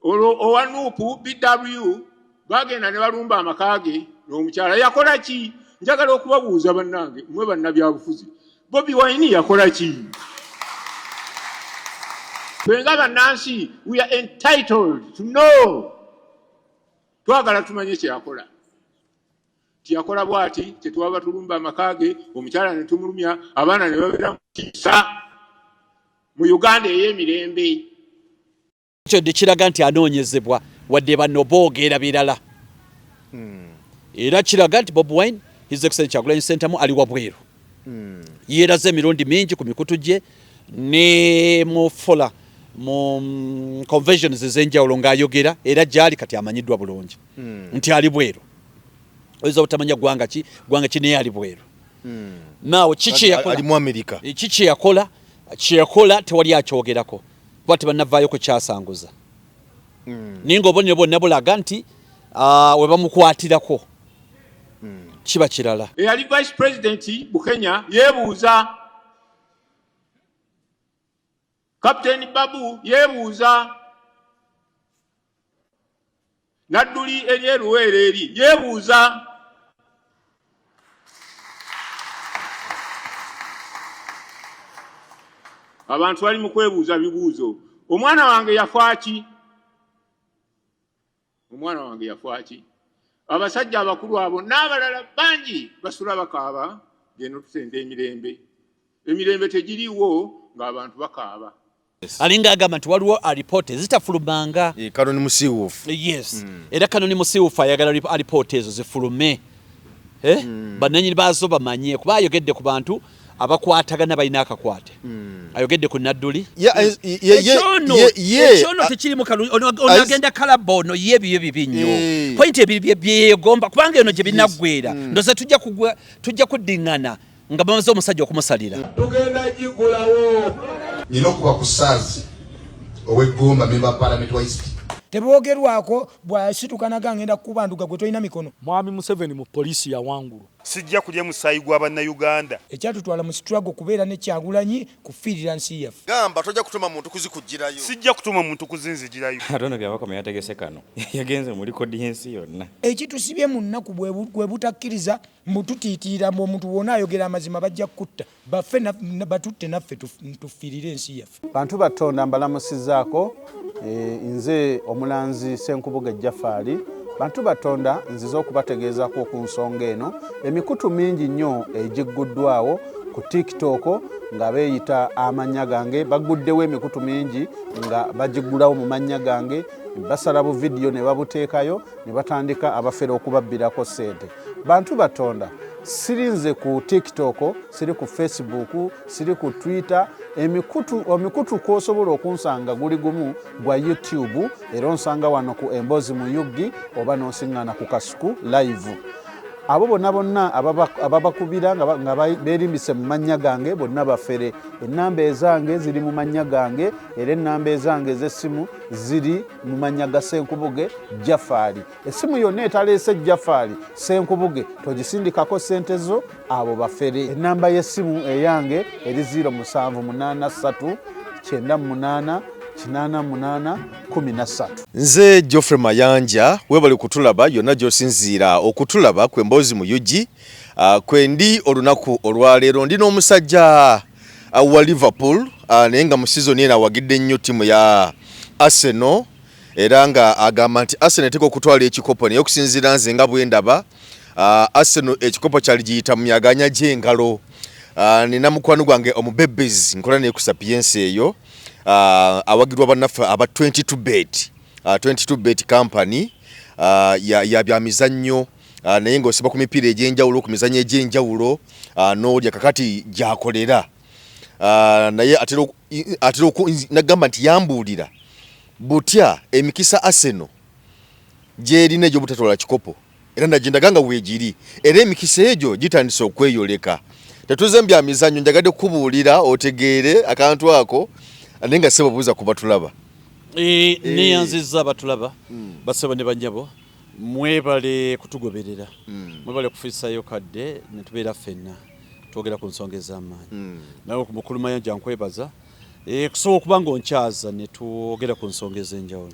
olwo owa nuupu bw bagenda ne balumba amaka ge n'omukyala yakola ki njagala okubabuuza bannange mwe bannabyabufuzi bobi wine yakola ki fenga bannansi we are entitled to know twagala tumanye kyeyakola tiyakola bwati tetwaba tulumba amaka ge omukyala ne tumulumya abaana ne babeera mu kiisa mu uganda ey'emirembe Ekyo de kiraga nti anoonyezebwa wadde banno boogera birala hmm. era kiraga nti Bob Wine His Excellency Kyagulanyi Ssentamu ali wabweru hmm. yeeraze emirundi mingi ku mikutu gye ne mu fola mu mm, conventions ez'enjawulo ng'ayogera era gyali kati amanyiddwa bulungi hmm. nti ali bweru oyinza obutamanya ggwanga ki ggwanga ki naye ali bweru naawe kiki kyeyakola kyeyakola tewali akyogerako kuba tebannavaayo kukyasanguza hmm. naye nga obonero bwonna bulaga nti ah, we bamukwatirako hmm. kiba kirala eyali vice pulezidenti bukenya yeebuuza kapiteeni babu yeebuuza nadduli eri eruweera eri yeebuuza abantu bali mu kwebuuza bibuuzo omwana wange yafaki omwana wange yafaki abasajja abakulu abo n'abalala bangi basula bakaaba geno tusente emirembe emirembe tegiriwo ng'abantu bakaaba alinga agamba nti waliwo alipoota ezitafulumanga eh, kanoni musiwuufu eh, yes hmm. era kanoni musiwuufu ayagala alipoota ezo zifulume eh? hmm. bananyini baazo bamanye kuba ayogedde ku bantu abakwatagana balina akakwate hmm. ayogedde ku nadduli ekyono tekirimu onagenda kalaba ono ye biyo bibi nnyo pointi ebiri byeyegomba kubanga eno gye binaggwera ndoza tujja kuddingana nga bamaze omusajja okumusalira tugenda gigulawo nina okuba ku saazi ow'eggumba memba palamenti wa isiti tebwogerwako bwasituka naga ngenda kukuba nduga gwe tolina mikono mwami museveni mu poliisi yawangulu sijja kulya musaayi gwa bannayuganda ekyatutwala mu struggle kubeera ne kyagulanyi kufiirira nsi yaffe gamba tojja kutuma muntu kuzikugirayo sijja kutuma muntu kuzinzigirayo atono byabakoma yategese kano yagenze mu likodi y'ensi yonna ekitusibye mu nnaku gwe butakkiriza mbu tutiitiira mbu omuntu wona ayogera amazima bajja kukutta baffe batutte naffe tufiirire ensi yaffe bantu batonda mbalamusizaako eh, nze omulanzi senkubuga ejjafaali bantu batonda nzize okubategeezako ku nsonga eno emikutu mingi nnyo egigguddwawo ku tiktok nga beeyita amannya gange bagguddewo emikutu mingi nga bagiggulawo mu mannya gange basala buvidiyo ne babuteekayo ne batandika abafere okubabbirako ssente bantu batonda siri nze ku tiktok siri ku facebook siri ku twitter emikutu omikutu kwosobola okunsanga guli gumu gwa youtube era onsanga wano ku emboozi mu uggi oba nonsiŋŋana ku kasuku live abo bonna bonna ababakubira nga berimbise mu mannya gange bonna bafere ennamba ezange ziri mu mannya gange era ennamba ezange ez'essimu ziri mu mannya ga senkubuge jafaali Essimu yonna etaleese Jafali Ssenkubuge togisindikako ssente zo abo bafere. Ennamba y'essimu eyange eri 0783989813. Nze Geoffrey Mayanja webale kutulaba yonna gy'osinziira okutulaba ku Emboozi mu UG. Ah, kwendi olunaku olwaleero ndi n'omusajja ah, wa Liverpool ah, naye nga mu sizoni eno awagidde nnyo ttiimu ya Arsenal era nga agamba nti Arsenal eteeka okutwala ekikopo naye okusinziira nze nga bwendaba uh, Arsenal ekikopo kyali giyita mu myaganya gy'engalo uh, nina mukwano gwange omubebezi nkola naye ku sapiensi eyo uh, awagirwa bannaffe aba 22 bet uh, 22 bet company uh, ya, ya bya mizannyo uh, naye ng'osiba ku mipiira egy'enjawulo ku mizannyo egy'enjawulo uh, n'olya kakati gyakolera uh, naye atera atera nagamba nti yambuulira butya emikisa Arsenal gyerina egyobutatwala kikopo era nagindaga nga weegiri era emikisa egyo gitandise okweyoleka tetuze mbya mizanyo njagadde kukubuulira otegeere akantu ako naye nga sebo buuza ku batulaba eh, eh. neyanziza batulaba hmm. basebo ne banyabo Mwebale kutugoberera, mm. mwebale kufisayo kadde netubeera ffenna twogera ku nsonga ez'amaanyi mm. nawe ku mukulu Mayanja nkwebaza e, kusobola okuba nga onkyaza netwogera ku nsonga ez'enjawulo.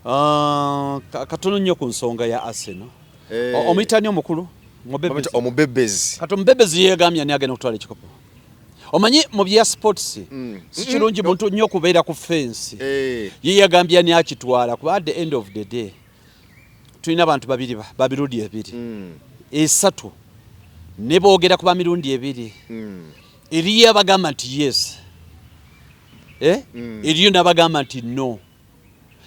Uh, katono nnyo ku nsonga ya Arsenal eh. omuyitani omukulu omubebezi kati omubebezi yegambye ani agenda okutwala ekikopo omanyi mu bya sports mm. sikirungi mm. muntu nnyo kubeera ku fensi eh. ye yagambye ani akitwala kuba at the end of the day tulina abantu babiri babirundi ebiri mm. esatu ne boogera kuba mirundi ebiri eriyo abagamba nti yes eh? eriyo n'abagamba nti no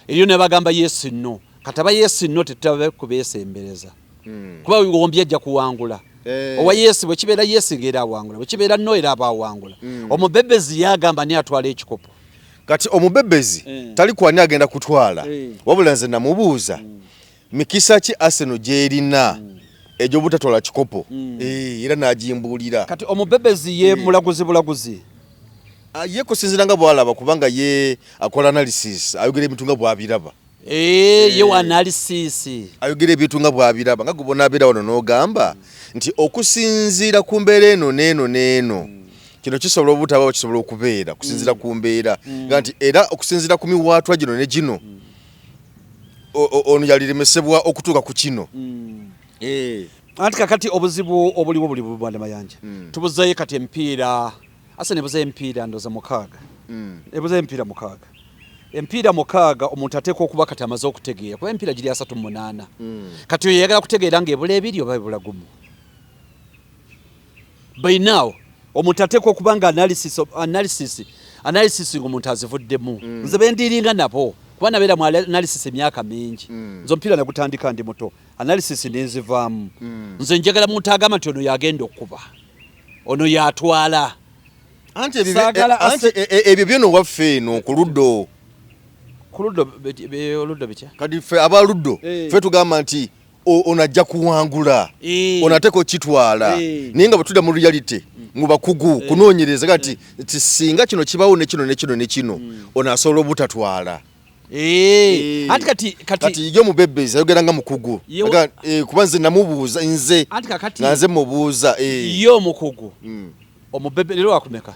eriyo nebagamba yesi no kataba yesi no tetutabe kubesembereza hmm. kuba wigoombye ajja kuwangula eh. owa yesi bwekibeera yesi ngaera awangula bwekibeera no era aba awangula hmm. omubebezi yagamba ni atwala ekikopo kati omubebezi eh. tali kwani agenda kutwala eh. wabula nze namubuuza hmm. mikisa ki Arsenal gyerina mm. egy'obutatwala kikopo mm. eh, era n'agimbuulira kati omubebezi ye eh. mulaguzi bulaguzi ah, ye kusinzira nga bwalaba kubanga ye akola analysis ayogera ebintu nga bwabiraba eh, ye wa analysis ayogera ebintu nga bwabiraba nga gubona abeera wano n'ogamba nti okusinziira ku mbeera eno n'eno n'eno mm. kino kisobola obutabawo kisobola okubeera okusinziira ku mbeera nga nti era okusinziira ku miwaatwa gino ne gino ono yaliremesebwa okutuuka ku kino mm. eh. anti kakati obuzibu obuliwo buli bubanda mayanja mm. tubuzayo kati empiira ase nebuzayo empiira ndoza mukaaga mm. ebuzayo empiira mukaaga empiira mukaaga omuntu ateeka okuba kati amaze okutegeera kuba empiira giri asatu munaana kati oyo yayagala kutegeera nga ebula ebiri oba ebula gumu by now omuntu ateekwa okuba nga analysis analysis analysis ng'omuntu azivuddemu mm. nze bendiringa nabo kuba nabeera mu analysis emyaka mingi mm. nze omupiira nagutandika ndi muto analysis nenzivaamu mm. nze njagala muntu agamba nti ono yagenda okukuba ono yatwala anti e, e, ebyo byona owaffe eno ku luddo ku luddo oluddo bitya kati fe aba luddo eh. fe tugamba nti ono ajja kuwangula eh. ono ateeka okitwala eh. naye nga bwetudda mu reality mu bakugu eh. kunoonyereza kati nti singa kino kibawo nekino nekino nekino hmm. ono asobola obutatwala ati kati kati yo mubebezi ayogera nga mukugu kuba nze namubuuza nze nga nze mubuuza yo omukugu hmm. omubebe lero wakumeka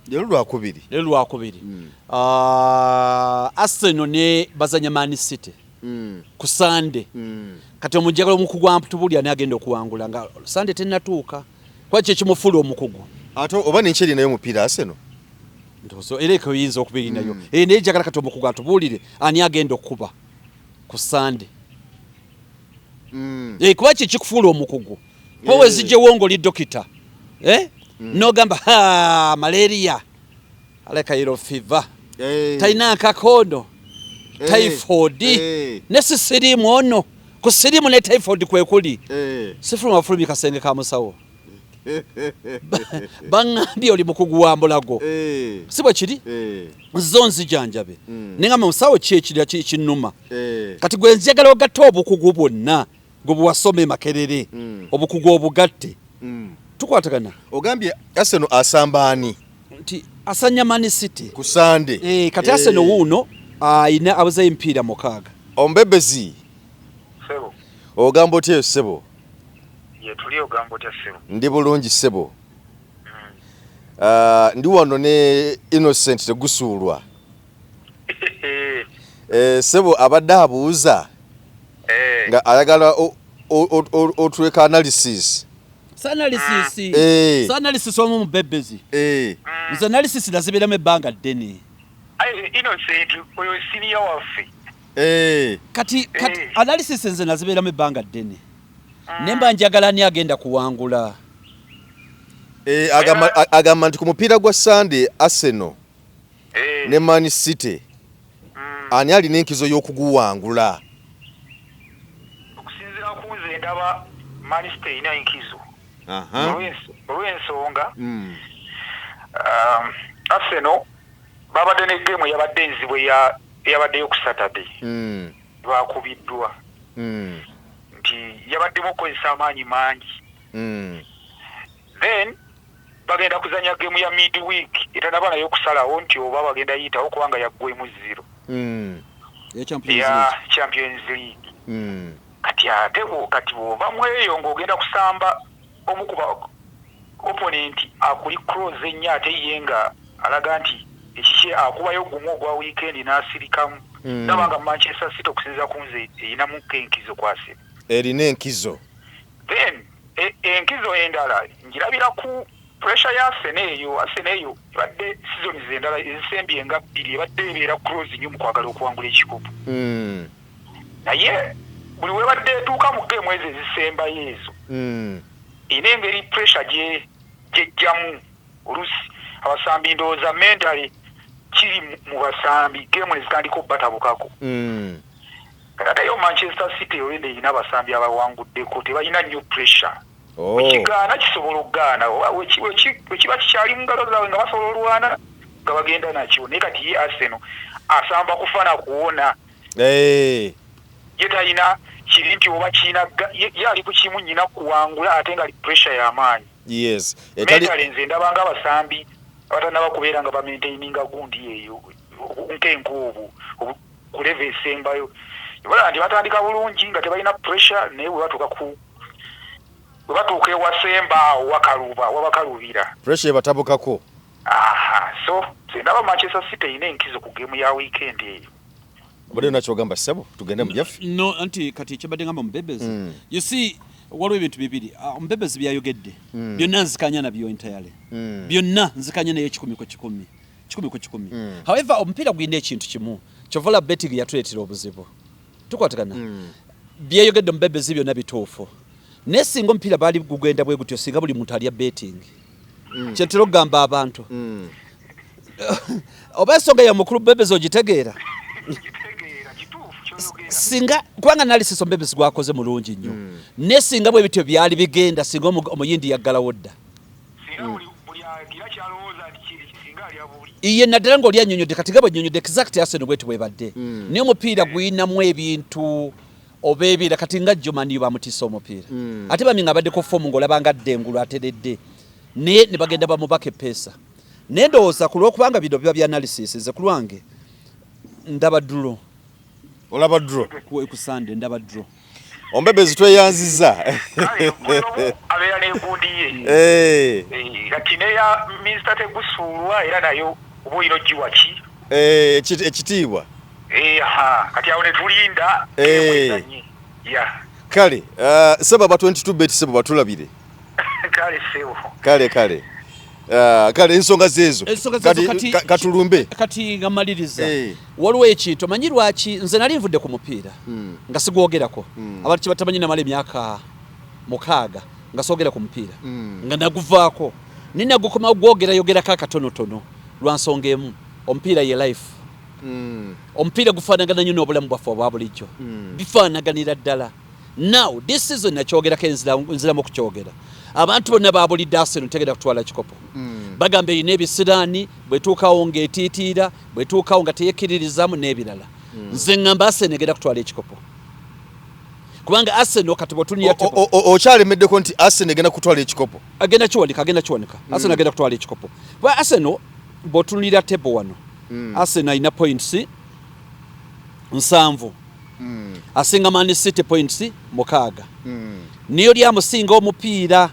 lero lwakubiri lero lwakubiri hmm. ah, arsenal ne bazanya man city mm. ku sande mm. kati omujagala omukugu amtubuli ani agenda okuwangula nga sande tenatuuka kuba kyekimufuula omukugu ate oba nekyeri nayo omupiira aseno ndozo era eko yinza okuba eri nayo mm. e, eh, naye jagala kati omukugu atubuulire ani agenda okukuba ku sande mm. e, kuba kyekikufuula omukugu kuba eh. wezijjewo ngaoli dokita eh? mm. nogamba malaria mm. aleka yellow fever hey. talina akakondo hey. typhoid hey. ne sisirimu ono ku sirimu ne typhoid kwekuli hey. sifuluma bafulumi kasenge ka musawo baŋambye oli mukugu wa mbulago eh. si bwe kiri eh. zo nzijanjabe hmm. naye nga musawo ki ekinuma eh. kati gwe nzjagala ogatta obukugu bwonna gwe bwewasoma e makerere mm. obukugu obugatte mm. tukwatagana ogambye aseno asamba ani nti asanya mani city ku sande e, kati e. aseno wuuno ayina abuzayo empiira mukaaga ombebezi sebo ogamba otya eyo sebo yetuli ogamba otya sebo ndi bulungi sebo mm. uh, ndi wano ne innocent tegusuulwa Eh, sebo abadde abuuza eh. nga ayagala otuleka analysis analysis mm. eh. analysis omu mubebezi nze analysis nazibiramu ebbanga ddene kati analysis nze naziberamu ebbanga ddene mm. ne mba njagala ani agenda kuwangula agamba nti ku mupiira gwa sunday arsenal ne Man City mm. ani alina enkizo y'okuguwangula okusinzira ku nze ndaba Man City erina enkizo olw'ensonga mm. um, Arsenal babadde ne geemu yabadde enzibu eyabaddeyo ku Saturday mm. bakubiddwa nti yabaddemu okukozesa amaanyi mangi then bagenda kuzanya gemu ya mid week etanaba nayo okusalawo nti oba bagenda yitawo kubanga yaggwemu zero mm. ya champions league mm. kati ate kati bwoba mweyo ngaogenda kusamba omukuba opponent akuli cross ennyo ate ye nga alaga nti ekikye akubayo gumu ogwa weekend n'asirikamu mm. naba nga manchester city okusinza ku nze erinamu enkizo kwasira erina enkizo then E, enkizo endala njirabira ku pressure ya Arsenal eyo Arsenal eyo ebadde sizoni zendala ezisembye nga bbiri ebadde ebeera close nnyo mu kwagala okuwangula ekikopo hmm. naye buli webadde etuuka mu geemu ezo ezisembayo ezo hmm. ina engeri pressure gye gyejjamu olusi abasambi ndowooza mentale kiri mu basambi geemu ezitandika obubatabukako hmm. Taata yo Manchester City already erina abasambi abawanguddeko tebalina nnyo pressure. Oh. Wekigaana kisobola okugaana wekiba kikyali mu ngalo zaabwe nga basobola olwana nga bagenda nakyo naye kati ye Arsenal asamba kufa na kuwona. Eh. Ye talina kiri nti oba kirina ye ali ku kimu nnyina kuwangula ate nga pressure y'amaanyi. Yes. Mentale nze ndabanga abasambi abatanaba kubeera nga bamaintaininga gundi eyo nkenka obwo ku leva esembayo ebalaba nti batandika bulungi nga tebalina pressure naye webatuuka ku webatuuka ewasemba awo wakaluba wabakalubira pressure ebatabukako aha so sendaba manchester city erina enkizo ku gemu ya weekend eyo obadde nakyogamba ssebo tugende mujaffe no anti kati ekyabadde ngamba mubebezi mm. you see waliwo ebintu bibiri ah, omubebezi byayogedde hmm. byonna nzikanya nabyo entirely hmm. byonna nzikanya naye ekikumi ku kikumi kikumi ku kikumi mm. however omupiira gulina ekintu kimu kyovola betting yatuleetera obuzibu tukwatagana mm. byeyogedde omubebezi byonna bituufu naye singa omupiira baali gugenda bwe gutyo singa buli muntu alya betting mm. kyentera okugamba abantu mm. oba ensonga ya mukulu bebezi ogitegeera singa kubanga nalisisa omubebezi gwakoze mulungi nnyo mm. naye singa bwe bityo byali bigenda singa omuyindi yaggalawo dda iye naddala nga oli anyonyodde kati nga bwenyonyodde exact arsenal bweti bwebadde mm. naye omupiira guyinamu ebintu oba ebiira kati nga jomaniyo bamutiisa omupiira mm. ate bami nga abaddeko fomu ngaolabanga adde engulu ateredde naye ne bagenda bamubaka epeesa naye ndowooza ku lwokubanga bino biba bya analysis ze ku lwange ndaba ddulo olaba dro ku ekusande ndaba dro ombebe zitweyanziza abeera nenkundi ye eh. Eh, kati neya minisita tegusuulwa era nayo oba oyina ogiwa ki eh, ekitiibwa kati awo netulinda kale uh, sebaba 22 bet sebo batulabire kale kale ah, kale ensonga zeezo katulumbe kati nga maliriza eh. waliwo ekintu omanyi lwaki nze nali nvudde ku mupiira hmm. nga sigwogerako hmm. abantu kyebatamanyi namala emyaka mukaaga nga soogera ku mupiira hmm. nga naguvaako naye nagukomawo gwogerayogerako akatonotono lwa nsonga emu omupiira ye life omupiira gufaanagana nyo n'obulamu bwaffe obwa bulijjo bifaanaganira ddala Now this season nakyogerako nziramu okukyogera abantu bonna babulidde Arsenal tegenda kutwala kikopo mm. bagamba erina ebisiraani bwetuukawo ng'etiitiira bwetuukawo nga teyekkiririzaamu n'ebirala mm. nze ngamba Arsenal egenda kutwala ekikopo kubanga Arsenal kati botunia tipo okyale medde ko nti Arsenal egenda kutwala ekikopo agenda kiwanika agenda kiwanika mm. Arsenal agenda kutwala ekikopo ba Arsenal botunira table wano mm. Arsenal ina points nsanvu mm. asinga Man City points mukaaga mm. niyo lyamusinga omupiira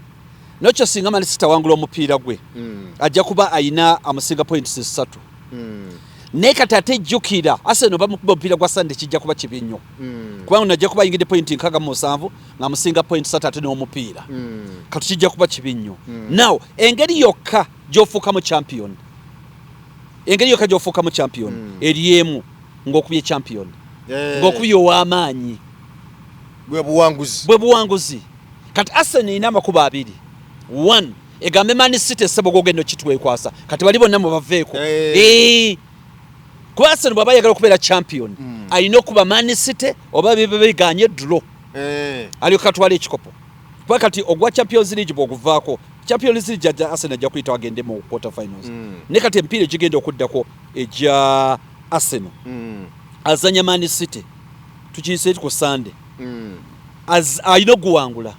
nokyo singa Man City awangula omupiira gwe mm. ajja kuba ayina amusinga points ssatu mm. naye kati ate jjukira Arsenal bamukuba omupiira gwa Sunday kijja kuba kibi nnyo mm. kubanga ono ajja kuba ayingidde pointi nkaaga mu nsanvu ng'amusinga pointi ssatu ate n'omupiira mm. kati kijja kuba kibi nnyo mm. now engeri yokka gy'ofuukamu champion engeri yokka gy'ofuukamu champion hmm. eri emu ng'okubye champion eh. ng'okubye ow'amaanyi bwe buwanguzi bwe buwanguzi kati Arsenal erina amakubo abiri one egambe Man City essebogo ogenda okitwekwasa kati bali bonna mu baveeko eh. Eh. kuba Arsenal bw'aba ayagala okubeera champion hmm. alina okuba Man City oba bibe biganye dro alyoka atwala ekikopo kuba kati ogwa champions league bw'oguvaako Champions League jajja Arsenal ajja kuyita agende mu quarter finals mm. ne kati empiira egigenda okuddako egya Arsenal mm. azanya Man City tukiyise ku Sunday mm. as alina okuwangula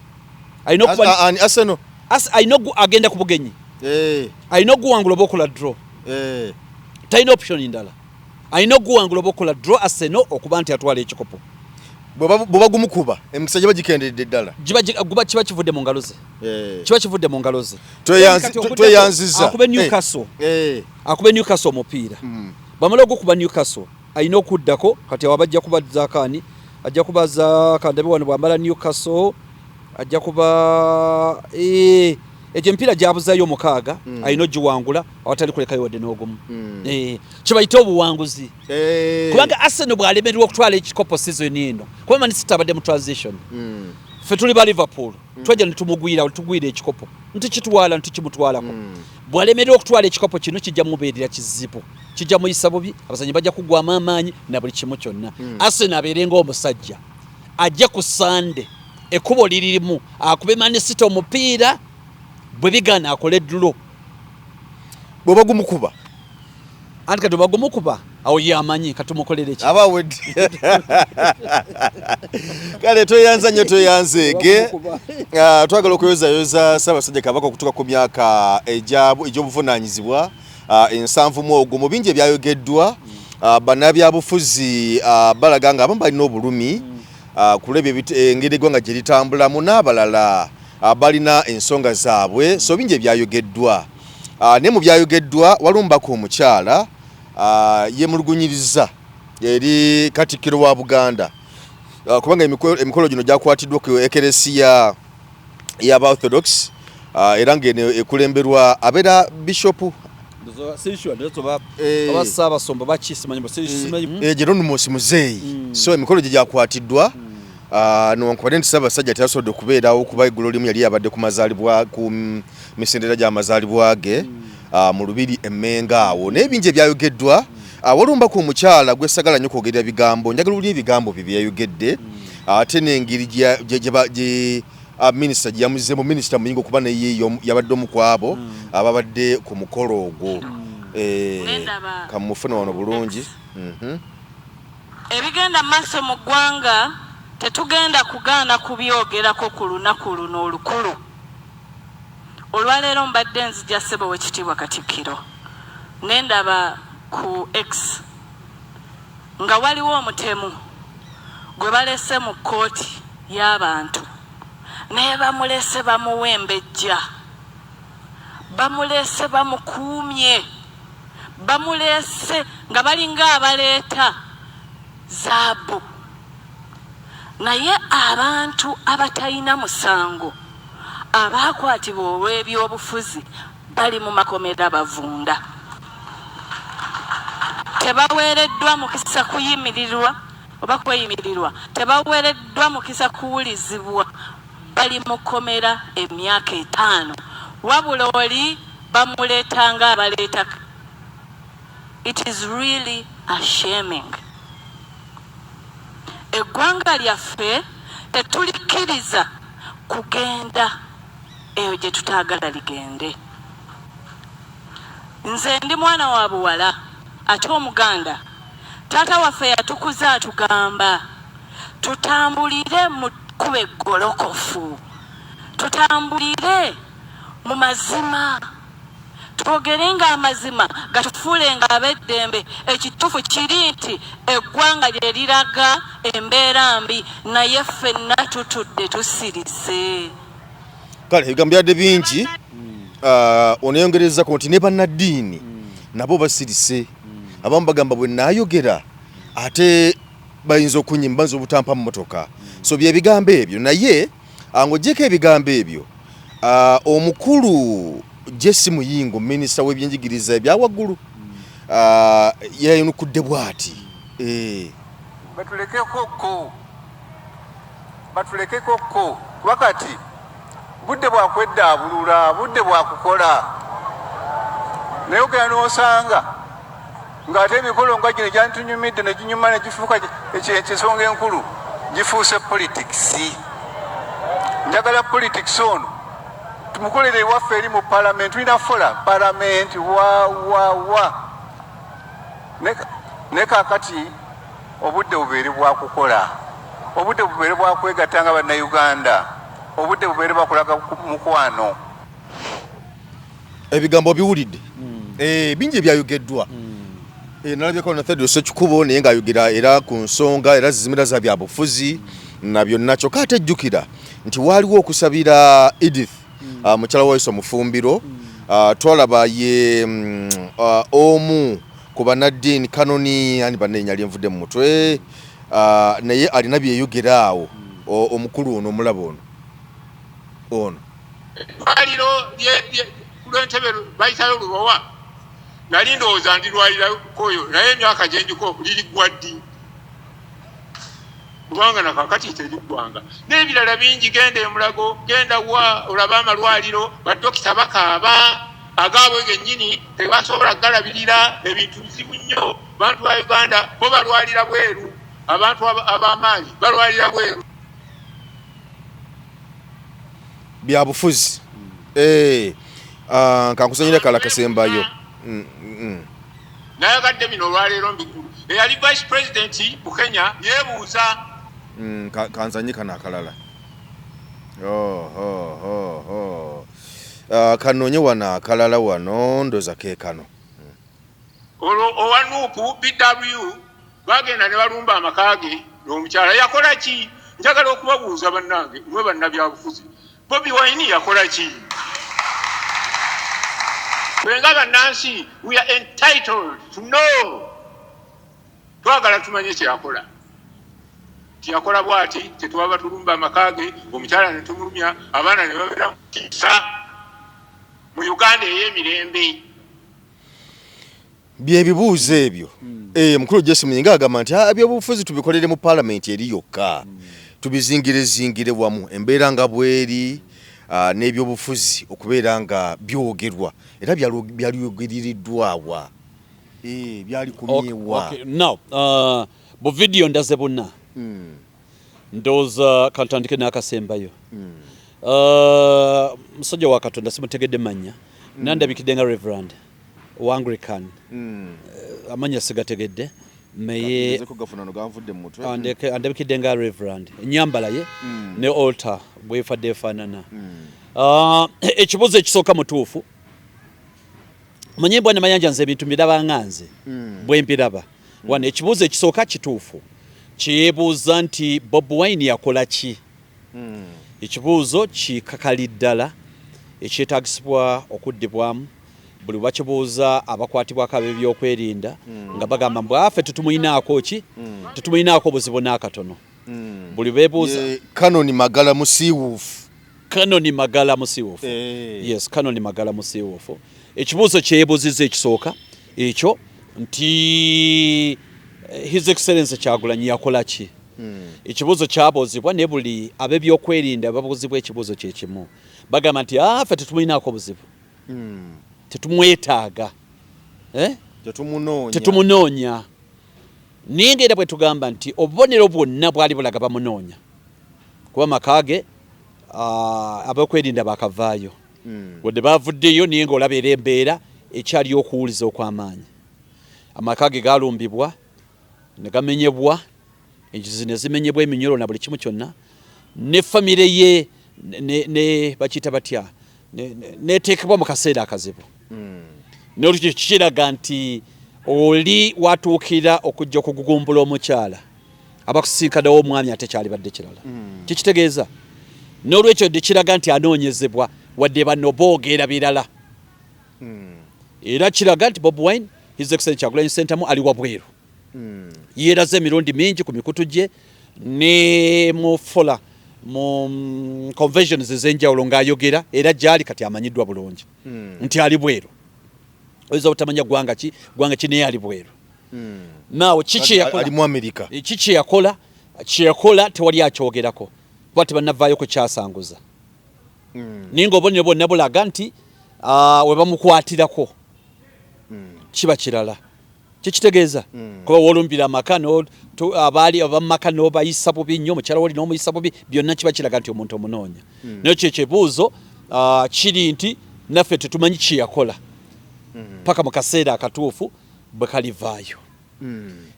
alina okuba ani Arsenal as alina agenda ku bugenyi eh alina okuwangula oba okola draw eh talina option ndala alina okuguwangula oba okukola draw Arsenal okuba nti atwala ekikopo bweba gumukuba emikisa giba gikenderedde ddala guba kiba kivudde mu ngalo ze eh. kiba kivudde mu ngalo ze tweyanziza akube eh. Newcastle eh. akube Newcastle omupiira hmm. bamala ogukuba Newcastle alina okuddako kati awo abajja kuba zakaani ajja kuba za kandabe wano bwambala Newcastle ajja kuba egyo emipiira gyabuzayo omukaaga hmm. alina ogiwangula awatali kulekayo wadde n'ogumu hmm. eh, kyebayita obuwanguzi eh. kubanga Arsenal bwalemererwa okutwala ekikopo sizoni eno kuba manisita abadde mu transition hmm. ffe tuli ba Liverpool hmm. twajja netumugwira olutugwira ekikopo ntukitwala ntukimutwalako bwalemererwa okutwala ekikopo kino kijja mubeerera kizibu kijja muyisa bubi abazanyi bajja kugwamu amaanyi na buli kimu kyonna Arsenal abeere ngaomusajja ajja ku Sande ekubo liririmu akube manisita omupiira bwe bigana akole ddulo bwoba gumukuba anti kati obagumukuba awo yamanyi katumukolere ki aba wedi kale tweyanza nnyo tweyanzeege ah, twagala okuyozayoza ssaabasajja kabaka okutuka ku myaka egy'obuvunaanyizibwa ah, ensanvu mu ogwo mu bingi ebyayogeddwa mm. ah, bannabyabufuzi balaga nga abamu balina obulumi mm. kulwa ebyo engeri eggwanga gye litambulamu n'abalala mm. Ah, balina ensonga zaabwe so bingi ebyayogeddwa ah, naye mu byayogeddwa waliwo mubaka omukyala ah, yemulugunyiriza eri katikkiro wa buganda kubanga emikolo gino gyakwatiddwa ku ekeresiya yaba orthodox era ngaeno ekulemberwa abeera bishopu gyeronumusi muzeeyi so emikolo gye gyakwatiddwa mm. Ah, newankubadde nti ssaabasajja teyasobodde okubeerawo kuba eggulo limu yali yabadde ku mazaalibwa ku mm, misindera gya mazaalibwa ge ah, mu lubiri emmenga awo naye bingi ebyayogeddwa ah, waliwo mbaka omukyala gwesagala nnyo kwogerera bigambo njagala owulira ebigambo bye byeyayogedde ate n'engeri minisita gye yamuzeemu minisita muyinga okuba naye yabadde omu ku abo hmm. ababadde ku mukolo ogwo hmm. eh, kamufuna wano bulungi mhm. Ebigenda maaso mu ggwanga tetugenda kugaana kubyogerako ku lunaku luno olukulu. Olwaleero mbadde nzija Ssebo Owekitiibwa Katikkiro ne ndaba ku X nga waliwo omutemu gwe balese mu kkooti y'abantu naye bamulese bamuwembejja, bamulese bamukuumye. bamuleese nga balinga abaleeta zaabu naye abantu abatalina musango abaakwatibwa olw'ebyobufuzi bali mu makomera bavunda tebaweereddwa mukisa kuyimirirwa oba kweyimirirwa tebaweereddwa mukisa kuwulizibwa bali mu kkomera emyaka etaano wabula oli Bamuleta nga abaleta it is really ashaming. Eggwanga lyaffe tetulikkiriza kugenda eyo gye tutaagala ligende. Nze ndi mwana wa buwala ate Omuganda. Taata waffe yatukuza atugamba tutambulire mu kkubo eggolokofu, tutambulire Mu mazima, twogerenga amazima gatufuulenga ab'eddembe. Ekituufu kiri nti eggwanga lye liraga embeera mbi, naye ffenna tutudde tusirise. Kale ebigambo byadde bingi, ah, oneyongerezako nti ne bannaddiini nabo basirise. Abamu bagamba bwe naayogera ate bayinza okunyima, bayinza obutampa mmotoka. So bye bigambo ebyo naye Ng'ogyeko ebigambo ebyo, omukulu JC Muyingo, minisita w'ebyenjigiriza ebya waggulu yayanukudde bwati. Eh. Batulekeko ko, batulekeko ko, kuba kati budde bwa kweddaabulula, budde bwa kukola naye ogenda n'osanga ng'ate emikolo nga gino gyantunyumidde ne ginyuma ne gifuuka ekisonga enkulu gifuuse politikisi njagala politikisi ono tumukolere ewaffe eri mu palamenti tulina fola palamenti wawawa ne kakati obudde bubeere bwakukola obudde bubeere bwakwegatta nga bannayuganda obudde bubeere bwakulaga mukwano ebigambo obiwulidde hmm. eh, bingi ebyayogeddwa hmm. eh, nalabyeko na thedros ekikubo naye ngaayogera era ku nsonga era zizimira za byabufuzi na byonna kyokka ate jjukira nti waaliwo okusabira edith hmm. ah, mukyala waiso omufumbiro ah, twalaba ye mm, ah, omu ku banaddiini kanoni ani banenya lyenvudde mu mutwe naye alina byeyogera awo omukulu ono omulaba ono ono eddwaliro kulwentebe bayitayo lubowa nali ndowooza ndirwalirakoyo naye emyaka gyendiko liriggwa ddi kubanga nakakati teriggwanga n'ebirala bingi genda emulago genda wa olaba amalwaliro badokita bakaaba agaabwe gennyini tebasobola galabirira ebintu bizibu nnyo bantu ba uganda bo balwalira bweru abantu ab'amaanyi balwalira bweru byabufuzi eh, ah, kankusanyira kala kasembayo mm, mm. nayagadde bino olwaleero mbikulu eyali vice president mu kenya yebuuza mm, kanzanye kano akalala oh, oh, oh, oh. Uh, kanonye wano akalala wano ndoza kekano olwo owanuupu bw Baagenda ne balumba amaka ge n'omukyala. Yakola ki? Njagala okubabuuza bannange, mwe bannabyabufuzi, Bobi Wine yakola ki? Ffe nga bannansi, we are entitled to know. Twagala tumanye kye yakola. Tiyakola bwati, tetwaba tulumba amaka ge, omukyala ne tumulumya, abaana ne babeera mu kisa mu Uganda ey'emirembe. byebibuuzo ebyo mm. eh, mukulu jesi muyinga agamba nti ah, ebyobufuzi tubikolere mu palamenti eri yokka mm. tubizingire zingire wamu embeera nga bweri ah, n'ebyobufuzi okubeera nga byogerwa era byalyogeririddwawa eh, byali kumyewa now uh, bu vidiyo ndaze buna mm. ndowooza kantandike n'akasembayo mm. uh, musajja wa katonda simutegedde manya mm. nandabikidde nga reverand wa Anglican hmm. eh, amanya sigategedde naye andabikidde nga reverand enyambala ye hmm. ne altar bwefadde efaanana hmm. ah, ekibuzo ekisooka mutuufu manye bwana mayanja nze ebintu mbiraba nga nze bwempiraba wano ekibuzo ekisooka kituufu kyebuuza nti bob wine yakola ki Hmm. Ekibuuzo kikakali ddala ekyetagisibwa okuddibwamu buli bakibuuza abakwatibwako ab'ebyokwerinda hmm. nga bagamba mbu afe tetumulinaako ki hmm. tetumulinaako buzibu n'akatono hmm. buli bebuuza kanoni magala musiiwuufu kanoni magala musiiwuufu eh. yes kanoni magala musiiwuufu ekibuuzo kyebuziza ekisooka ekyo nti eh, his excellence kyagulanyi yakola ki hmm. ekibuuzo kyabuuzibwa ne buli abebyokwerinda babuuzibwa ekibuuzo kyekimu bagamba nti ah, ffe tetumulinaako buzibu hmm. tetumwetaaga eh? tetumunoonya naye ngaera bwe tugamba nti obubonero bwonna bwali bulaga bamunoonya kuba maka ge ah, abokwerinda bakavaayo hmm. wadde baavuddeyo naye ngaolaba era embeera ekyaliyo okuwuliza okw'amaanyi amaka ge galumbibwa ne gamenyebwa enjuzi ne zimenyebwa eminyolo na buli kimu kyonna ne famire ye ne bakiyita batya neteekebwa mu kaseera akazibu hmm. nolwekyo kikiraga nti oli watuukira okujja okugugumbula omukyala abakusinkadawo omwami ate kyalibadde kirala mm. kikitegeeza n'olwekyo dikiraga nti anoonyezebwa wadde bano boogera birala mm. era kiraga nti bob wine his excellent kyagulanyi sentamu ali wabweru mm. yeeraze emirundi mingi ku mikutu gye ne mu fola mu mm, conventions ez'enjawulo ng'ayogera era gyali kati amanyiddwa bulungi mm. nti ali bweru oyinza obutamanya ggwanga ki ggwanga ki naye ali bweru hmm. naawe kiki yakola kyeyakola tewali akyogerako kuba tebanavaayo kukyasanguza hmm. naye nga obonero bwonna bulaga nti ah, webamukwatirako hmm. kiba kirala kyekitegeeza hmm. kuba wolumbira amaka abaali abamumaka nobayisa bubi nnyo omukyala woli nomuyisa bubi byonna kiba kiraga nti omuntu omunoonya naye kyo ekyebuuzo ah, kiri nti naffe tetumanyi kyeyakola paka mu kaseera akatuufu bwe kalivaayo.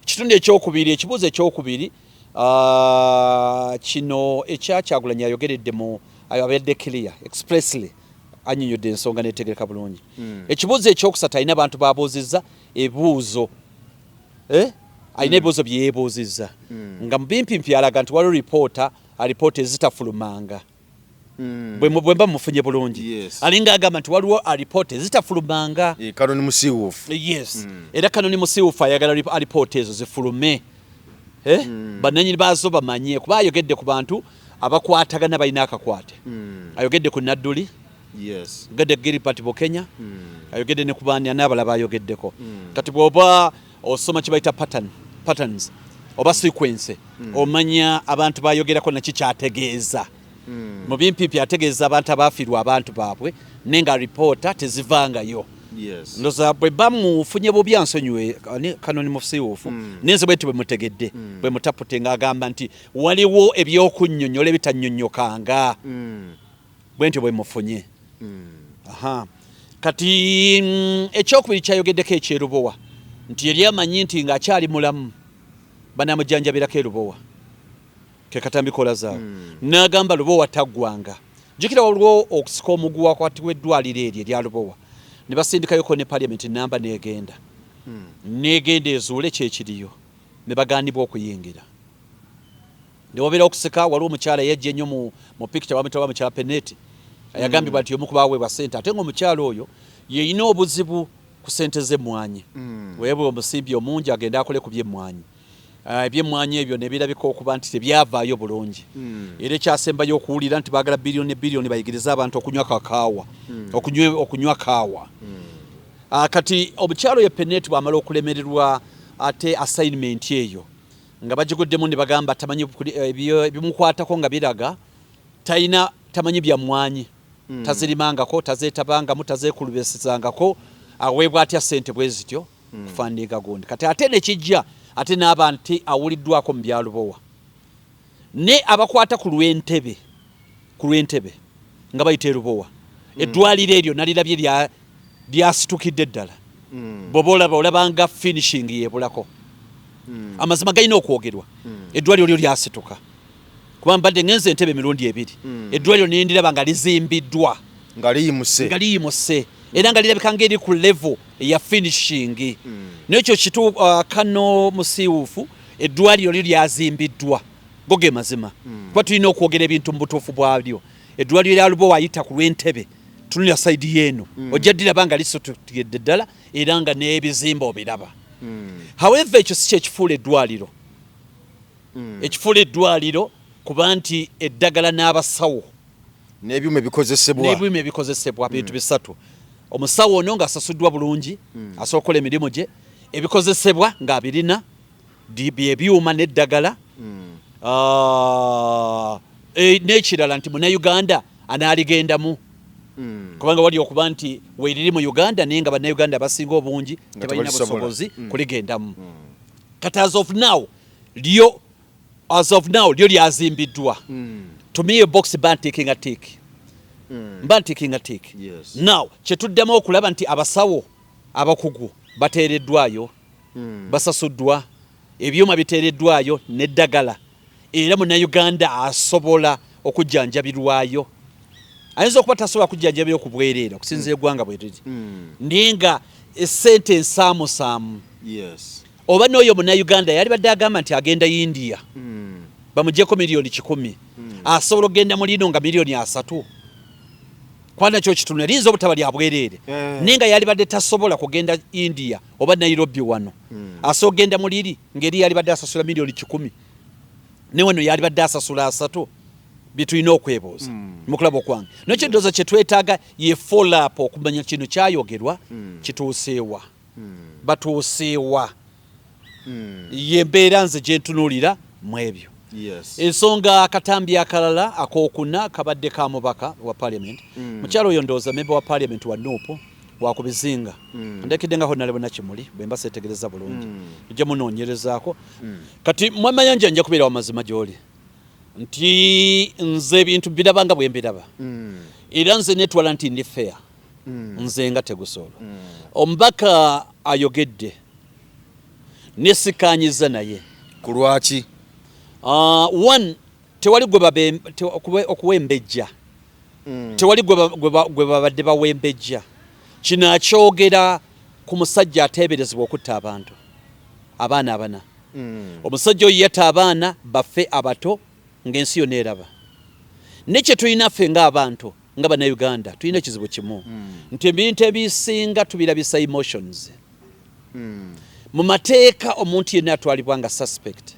Ekitundu hmm. ekyokubiri, ekibuuzo ekyokubiri ah, kino ekya Kyagulanyi ayogeredde mu abadde clear expressly anyonyodde ensonga netegereka bulungi. Hmm. Ekibuuzo ekyokusatu alina abantu babuuzizza ebuuzo eh? alina hmm. ebibuuzo byeyebuuzizza nga mubimpimpi alaga nti waliwo ripoota alipoota ezitafulumanga. Mm. bwemba mufunye bulungi yes. alinga agamba nti waliwo alipoota ezitafulumanga e, kanoni musiwufu yes mm. era kanoni musiwufu ayagala alipoota ezo zifulume eh? mm. bananyini baazo bamanye kuba ayogedde ku bantu abakwatagana balina akakwate mm. ayogedde ku nadduli yes. gede gilipati bukenya mm. ayogedde ne kubaani anaabalaba ayogeddeko mm. kati bwoba osoma kibaita pattern patterns oba sequence mm. omanya abantu bayogerako naki kyategeeza mm. mu bimpimpi ategeeza abantu abafiirwa abantu baabwe naye nga ripoota tezivangayo yes. ndoza bwe bamufunye bubi ansonyiwe kano ni musiwuufu mm. nenze bwenti bwe mutegedde mm. bwe mutapute nga agamba nti waliwo ebyokunyonyola ebitanyonyokanga mm. bwentyo bwe mufunye aha kati mm, ekyokubiri kyayogeddeko ekyerubowa nti yali amanyi nti ng'akyali mulamu banamujanjabirako erubowa kekatambikola zaawo hmm. n'agamba lubowa taggwanga jukira waliwo okusika omuguwa kwati w'eddwaliro eryo erya lubowa ne basindikayoko ne paliamenti namba n'egenda hmm. n'egenda ezuule kyekiriyo ne bagaanibwa okuyingira Ndi wabera okuseka waliwo omukyala eyajja ennyo mu, mu picture bamutaba mukyala Peneti ayagambibwa mm. nti omu kubaweebwa ssente ate nga omukyala oyo yeyina obuzibu ku sente z'emmwanyi mm. weebwe omusimbi omungi agende akole ku by'emmwanyi ah, ebyemmwanyi ebyo nebirabika okuba nti tebyavaayo bulungi mm. era ekyasembayo okuwulira nti baagala biliyoni biliyoni bayigirize abantu okunywa kakaawa mm. okunywa kaawa ah, kati omukyalo ye peneti bwamala okulemererwa ate assignment eyo nga bagiguddemu ne bagamba tamanyi ebimukwatako nga biraga talina tamanyi bya mmwanyi mm. tazirimangako tazeetabangamu tazeekulubesezangako aweebwa atya ssente bwe zityo mm. kufandiga gundi kati ate nekijja ate n'abantu awuliddwako mu byalubowa ne abakwata ku lw'entebe ku lw'e Ntebe nga bayita e Lubowa, eddwaaliro eryo nalirabye lya lyasitukidde ddala, bw'oba olaba olaba nga finishing y'ebulako. Amazima galina okwogerwa, eddwaaliro lyo lyasituka kuba mbadde ngenze e Ntebe emirundi ebiri, eddwaaliro ne ndiraba nga lizimbiddwa nga liyimuse nga liyimuse era nga lirabika ng'eri ku level eya finishing. N'ekyo kitu uh, kano musiiwuufu eddwaaliro lyo lyazimbiddwa. go ge mazima hmm. kuba tulina okwogera ebintu mu butuufu bwabyo eddwaliro lya lubowa ayita ku lw'entebe tunulira saidi yeeno hmm. ojja diraba nga lisotugedde ddala era nga n'ebizimba obiraba hmm. haweva ekyo si kyekifuula eddwaliro ekifuula eddwaliro kuba nti eddagala n'abasawo n'ebyuma ebikozesebwa n'ebyuma ebikozesebwa bintu bisatu omusawo ono ng'asasuddwa bulungi asobola okukola emirimu gye ebikozesebwa ng'abirina bye byuma n'eddagala hmm. ah, e, n'ekirala nti munauganda anaaligendamu hmm. kubanga wali okuba nti weeriri mu uganda naye nga bannayuganda abasinga obungi tebalina busobozi hmm. kuligendamu kati as of now lyo as of now lyo lyazimbiddwa to me box bantikinga tiiki mba ntikinga tiiki now kyetuddemu okulaba nti abasawo abakugu bateereddwayo hmm. basasuddwa ebyuma biteereddwayo neddagala era munauganda asobola okujjanjabirwayo ayinza okuba tasobola kujjanjabirwa ku bwereere okusinza hmm. egwanga bweriri hmm. naye nga esente ensaamusaamu oba n'oyo munauganda yali badde agamba nti agenda india bamugyeko miliyoni kikumi asobola okugenda mu lino nga miliyoni asatu kwanakyo kitundu liyinza obutaba lyabwereere eh. naye nga yalibadde tasobola kugenda india oba Nairobi wano mm. asobola genda mu liri ngeri yalibadde asasula miliyoni kikumi ne wano yalibadde asasula asatu byetulina okwebuuza mm. mukulaba okwange nokyendooza mm. kyetwetaaga ye folap okumanya kino kyayogerwa mm. kituuseewa mm. batuuseewa mm. ye mbeera nze gyentunuulira mu ebyo yes. ensonga akatambi akalala akokuna kabadde ka mubaka wa parliament mm. mukyalo oyo ndooza memba wa parliament wa nuupu wakubizinga mm. ndekidde nga honalebo nakimuli bwemba setegereza bulungi mm. nja munonyerezaako mm. kati mwamayanja nja kubeera wamazima gyoli nti nze ebintu biraba nga bwembiraba mm. era nze netwala nti ndi fair mm. nze nga tegusoolo mm. omubaka ayogedde nesikanyiza naye kulwaki uh, ah, one tewali okuwembejja mm. tewali gwe babadde bawembejja kino akyogera ku musajja ateeberezebwa okutta abantu abaana abana mm. omusajja oyo yata abaana baffe abato ng'ensi yona eraba ne kye tulina ffe ng'abantu nga banauganda tulina ekizibu kimu mm. nti ebintu ebisinga tubirabisa emotions hmm. mu mateeka omuntu yenna atwalibwa nga suspect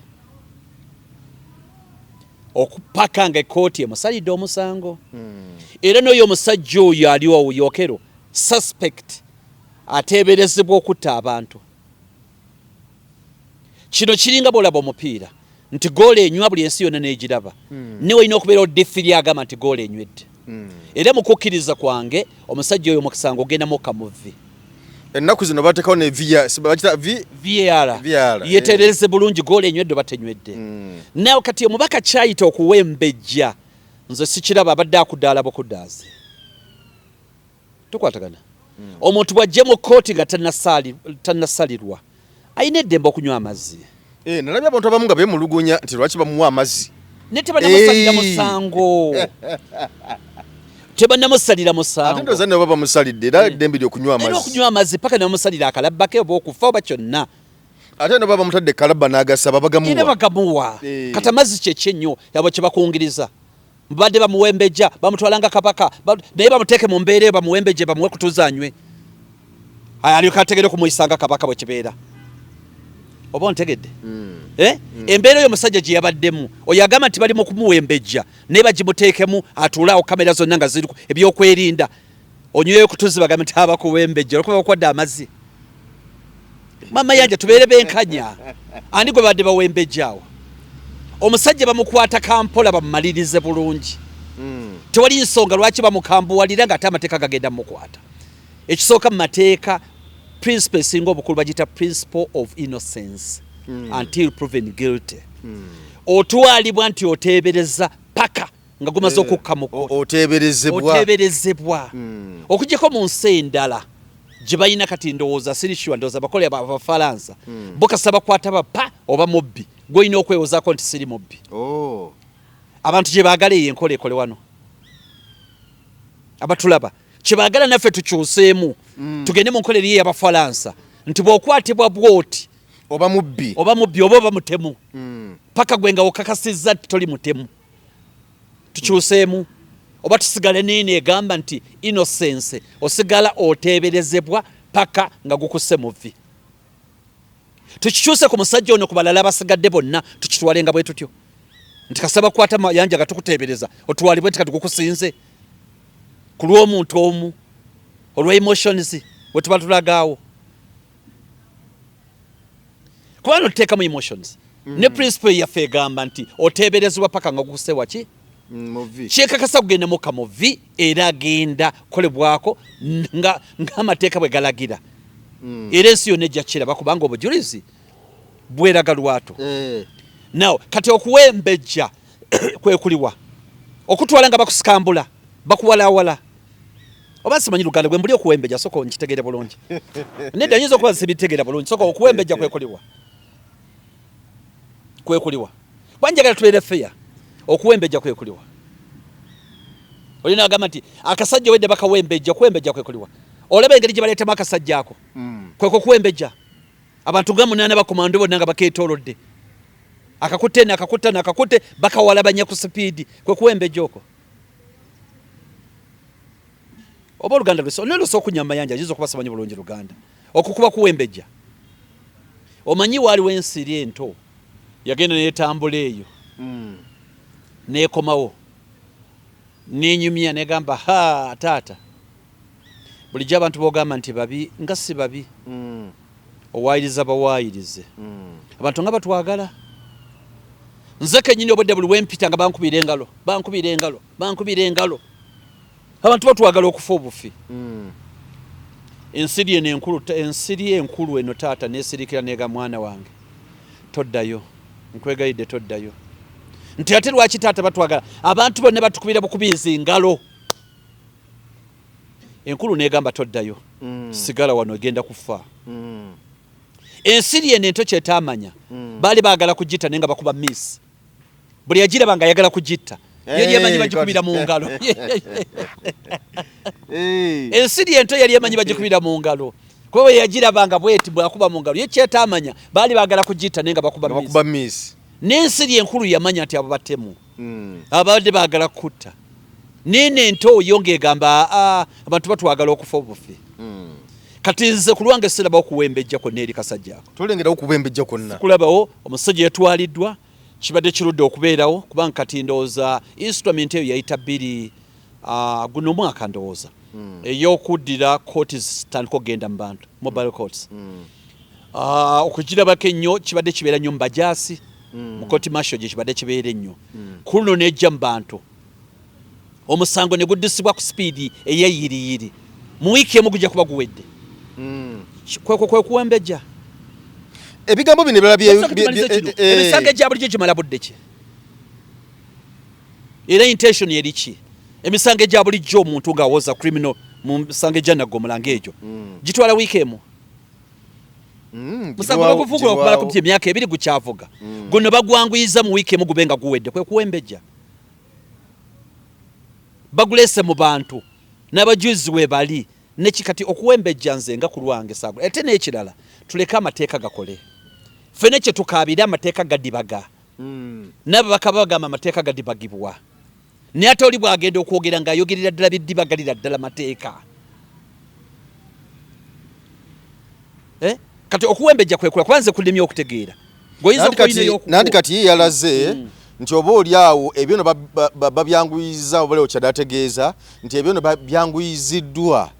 okupaka nga ekooti emusalidde omusango hmm. era noyo omusajja oyo aliwo yokero suspect ateeberezebwa okutta abantu Kino kiringa bw'olaba omupiira nti goolo enywa buli ensi yonna n'egiraba hmm. ne walina okubeerawo difiri agamba nti goolo enywedde hmm. era mu kukkiriza kwange omusajja oyo omusango ogenda mukka mu vvi ennaku zino bateekawo ne var yetereeze bulungi goolo enywedde batenywedde hmm. naye kati omubaka kyayita okuwembejja nze sikiraba abadde akudaalaba okudaazi tukwatagana omuntu bw'ajja mu kkooti nga tannasalirwa alina eddembe okunywa amazzi eh, nalabye abantu abamu nga beemulugunya nti lwaki bamuwa amazzi naye tebanamusalira musango tebanamusalira musangoate nabo bamusalidde era eh. eddembe lyokunywa amazzi okunywa amazzi paka nebamusalira akalabba ke oba okufa oba kyonna ate nabo bamutadde kalabba n'agasaba bagamuwa bagamuwa eh. kati amazzi kyekyenyo yabo kyebakungiriza Mbadde bamuwembejja bamutwala nga kabaka naye bamuteeke mu mbeera eyo bamuwembejje bamuwe kutuzanywe alyoka ategere okumuyisa nga kabaka bwe kibeera oba ontegedde hmm. eh? hmm. embeera oyo omusajja gye yabaddemu oyo agamba nti bali mu kumuwembejja naye bagimuteekemu atuulaawo kamera zonna nga ziriku ebyokwerinda onyweyo kutuzi bagambe nti abakuwa embejja olwokuba bakwadde amazzi mama yanja tubeere benkanya ani gwe badde bawa embejja awo omusajja bamukwata kampola bamumalirize bulungi hmm. tewali nsonga lwaki bamukambuwalira nga ate amateeka gagenda mukwata ekisooka mu mateeka principle esinga obukulu bagiyita principle of innocence hmm. until proven guilty hmm. otwalibwa nti oteebereza paka nga gumaze eh, okukka mu oteeberezebwa hmm. okujjako mu nsi endala gye balina kati ndowooza sirisua ndowooza bakole abafalansa hmm. bo kasita bakwata bapa oba mubbi gwolina okwewozaako nti siri mubbi oh. abantu gye baagala eyo enkola ekole wano abatulaba kye baagala naffe tukyuseemu hmm. tugende mu nkola eriyo eyabafalansa nti bw'okwatibwa bwoti oba mubbi oba mubbi oba oba mutemu paka gwe nga okakasizza toli mutemu tukyuseemu oba tusigale neeno egamba nti inosense osigala oteeberezebwa paka nga gukusse muvi tukikyuse ku musajja ono ku balala abasigadde bonna tukitwale nga bwe tutyo nti kasaba kwata mayanja nga tukuteebereza otwalibwe nti katigukusinze ku lw'omuntu omu olwa emotions wetubatulag awo kubanga otuteekamu emotions mm. ne principle yaffe egamba nti oteeberezebwa paka nga gukuse waki mm, kyekakasa kugenda muka muvi era agenda kolebwako ng'amateeka bwe galagira mm. era ensi yonna ejja kiraba kubanga obujulizi bweraga lwato eh. naw kati okuwa embejja kwekuliwa okutwala nga bakusikambula bakuwalawala oba simanyi luganda gwe mbuli okuwembeja soko nkitegere bulungi nedda nyinza okuba sibitegera bulungi soko okuwembeja kwekuliwa kwekuliwa banjagala tubeere feya okuwembeja kwekuliwa olina agamba nti akasajja wedde bakawembeja okuwembeja kwekuliwa olaba engeri gye baleetamu akasajja ako mm. kweko kuwembeja abantu nga munaana bakomando bonna nga bakeetoolodde akakutte nakakutta nakakute bakawalabanya ku sipiidi kwekuwembeja oko oba oluganda lwesonelosa okunya mayanja yinza okuba simanyi bulungi luganda okukuba kuwembejja omanyi waaliwo ensiri ento yagenda netambula eyo mm. nekomawo nenyumya negamba ha taata bulijjo abantu bogamba nti babi nga si babi mm. owayiriza bawayirize abantu nga batwagala nze kenyini obwedde buli wempita nga bankubira engalo bankubira engalo bankubira engalo abantu batwagala okufa obufi mm. ensiri eno enkulu ensiri enkulu eno taata nesirikira nega mwana wange toddayo nkwegayidde toddayo nti ate lwaki taata batwagala abantu bonna batukubira bukubizi ngalo enkulu negamba toddayo mm. sigala wano egenda kufa mm. ensiri eno ento kyetamanya mm. baali bagala kugitta naye nga bakuba miss buli yagiraba nga ayagala kugitta yali emanyi bagikubira mu ngalo ensiri ento yali emanyi bagikubira mu ngalo kuba bwe yagiraba nga bweti bwakuba mu ngalo ye kyetamanya baali bagala kugitta naye nga bakuba miss n'ensiri enkulu yamanya nti abo batemu mm. ababadde bagala kutta nene ente oyo ng'egamba aa abantu batwagala okufa obufi mm. kati nze ku lwange sirabawo kuwembejja kwonna eri kasajja ako tolengerawo kuwembejja kwonna kulabawo omusajja yatwaliddwa kibadde kirudde okubeerawo kubanga kati ndowooza instrument eyo yayita bbiri ah, guno omwaka ndowooza hmm. eyokuddira kooti zitandika okugenda mu bantu mobile courts hmm. ah, okugirabako ennyo kibadde kibeera nnyo mu bajaasi mm. mukoti masho gye kibadde kibeera ennyo mm. ku luno nejja mu bantu omusango ne guddusibwa ku sipiidi eyeyiriyiri mu wiiki emu gujja kuba guwedde mm. kwekwo kwe kuwembeja ebigambo bino ebirala byemisango egya bulijjo gimala budde ki era intention eri ki emisango egya bulijjo omuntu ng'awoza criminal mu misango egyanagga omulanga egyo gitwala wiiki emu Mm, musango bagufugula okumala ku emyaka ebiri gukyavuga mm. guno bagwanguyiza mu wiiki emu gube nga guwedde kwe kuwembeja baguleese mu bantu n'abajuzi we bali neki kati okuwembejja nze nga ku lwange sago ate n'ekirala tuleke amateeka gakole ffene kye tukaabire amateeka gadibaga mm. nabo bakaba bagamba amateeka gadibagibwa naye ate oli bwagenda okwogera nga ayogerera ddala byeddibagalira ddala mateeka eh? kati okuwembejja kwekula kuba nze kulemye okutegeera ngoyinzananti kati ye yalaze mm. nti oba oli awo ebyo no babyanguyiza oba leo kyadategeeza nti ebyo no byanguyiziddwa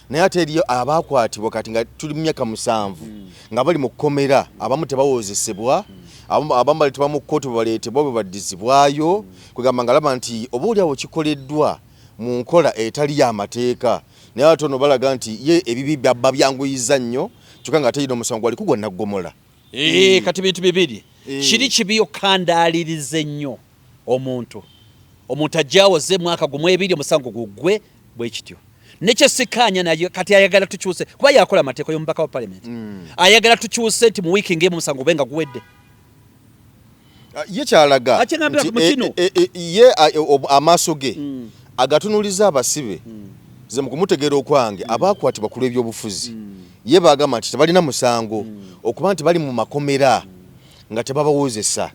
naye ate eriyo abaakwatibwa kati nga tuli mu myaka musanvu hmm. nga bali mu kkomera abamu tebawozesebwa hmm. abamu baleetebwa mu kkooti bwebaleetebwa bwe baddizibwayo hmm. kwegamba nga laba nti oba oli awo kikoleddwa mu nkola etali y'amateeka naye ate ono balaga nti ye ebibi babyanguyiza nnyo kyokka nga ate yina omusango gwali kugwa naggomola Eh, eh. kati bintu bibiri eh. kiri kibi okukandaaliriza ennyo omuntu omuntu ajjawoze mwaka gumu ebiri omusango gugwe bwekityo nekyesikaanya naye kati ayagala tukyuse kuba yakola amateeka yomubaka wa palamenti mm. ayagala tukyuse nti mu wiiki ngemu omusango gube nga guwedde ah, ye kyalaga eh, eh, eh, ye ah, amaaso ge mm. agatunuliza abasibe mm. ze mukumutegeera okwange mm. abaakwatibwa ku lw'ebyobufuzi ye baagamba nti tebalina musango okuba nti bali mu makomera nga tebabawozesa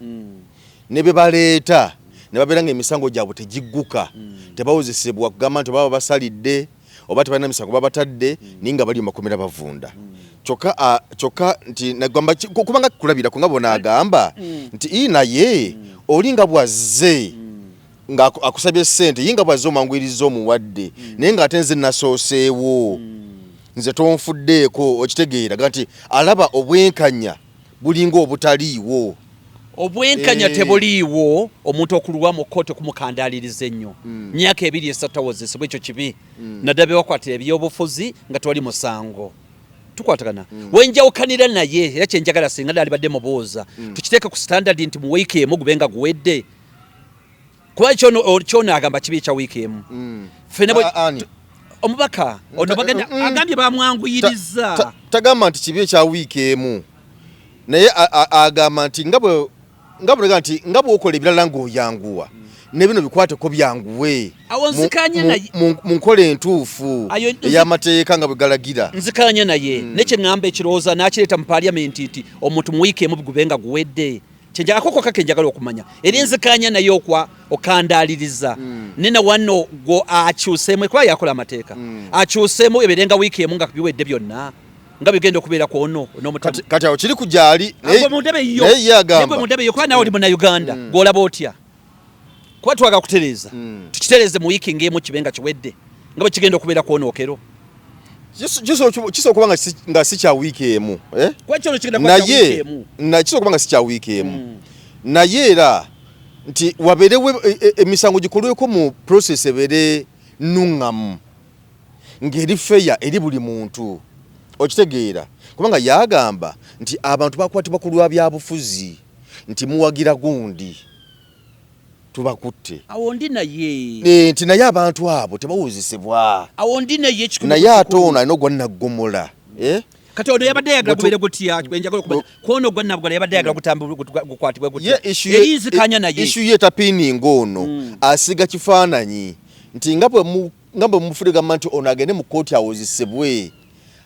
ne be baleeta ne babeera nga emisango gyabwe tegigguka tebawozesebwa kugamba nti baba basalidde oba tebalina misango babatadde mm. naye nga bali mumakomera bavunda mm. kyokka nti nagamba kubanga kulabirako nga bona agamba mm. nti ii naye oli nga bwazze nga akusabye sente ye nga bwazze omanguyiriza omuwadde naye nga ate nze nasooseewo nze tonfuddeeko okitegeera ga nti alaba obwenkanya bulinga obutaliiwo. Obwenkanya eh. tebuliiwo omuntu okulwa mu kkooti okumukandaaliriza ennyo hmm. myaka ebiri esatu tawozesebwa ekyo kibi hmm. naddala bewakwatira ebyobufuzi nga tewali musango tukwatagana mm. wenjawukanira naye era kyenjagala singa nalibadde mubuuza mm. tukiteeke ku standard nti mu wiiki emu gube nga guwedde kuba kyona agamba kibi ekya wiiki emu mm. omubaka ono bagenda mm. agambye bamwanguyiriza tagamba nti kibi ekya wiiki emu naye agamba nti nga bwe nga bulaga nti nga bwokola ebirala ng'oyanguwa ne bino bikwateko byanguwe mu nkola entuufu ey'amateeka nga bwe galagira nzikanya naye hmm. nekyeŋŋamba ekirowooza n'akireeta mu paaliyamenti nti omuntu mu wiiki emu bigube nga guwedde kyegyakoko kake njagala okumanya eri enzikanya naye okwa okandaliriza mm. nina wano gwo akyuseemu kuba yakola amateeka mm. akyuseemu eberenga wiiki emu nga biwedde byonna nga bigenda okubeera ku ono kati awo kiri ku gyali naye ye agamba mundebe yo kuba nawe oli munauganda mm. gwolaba otya kuba twaga kutereeza hmm. tukitereeze mu wiiki ng'emu kibe nga kiwedde nga bwe kigenda okubeera kwonookero kisobola okuba nga si kya wiiki emu eh? naye kisobola okuba nga si kya wiiki emu hmm. naye era nti wabeerewo e, e, emisango gikolweko mu process ebeere nuŋŋamu ng'eri feya eri buli muntu okitegeera kubanga yagamba nti abantu bakwatibwa ku lwa byabufuzi nti muwagira gundi tubakutte awo ndi naye eh, nti naye abantu abo tebawuzisibwa awo ndi naye naye ate ono alina ogwa naggomola eh? kati ono yabadde ayagala kubeere gutya enjagala okuba kwono ogwa nabgola yabadde ayagala gutambgukwatibwe gutya eyinzikanya naye isu ye tapiininga ono hmm. asiga kifaananyi nti nga bwe nga bwe mufudde gamba nti ono agende mu kooti awozesebwe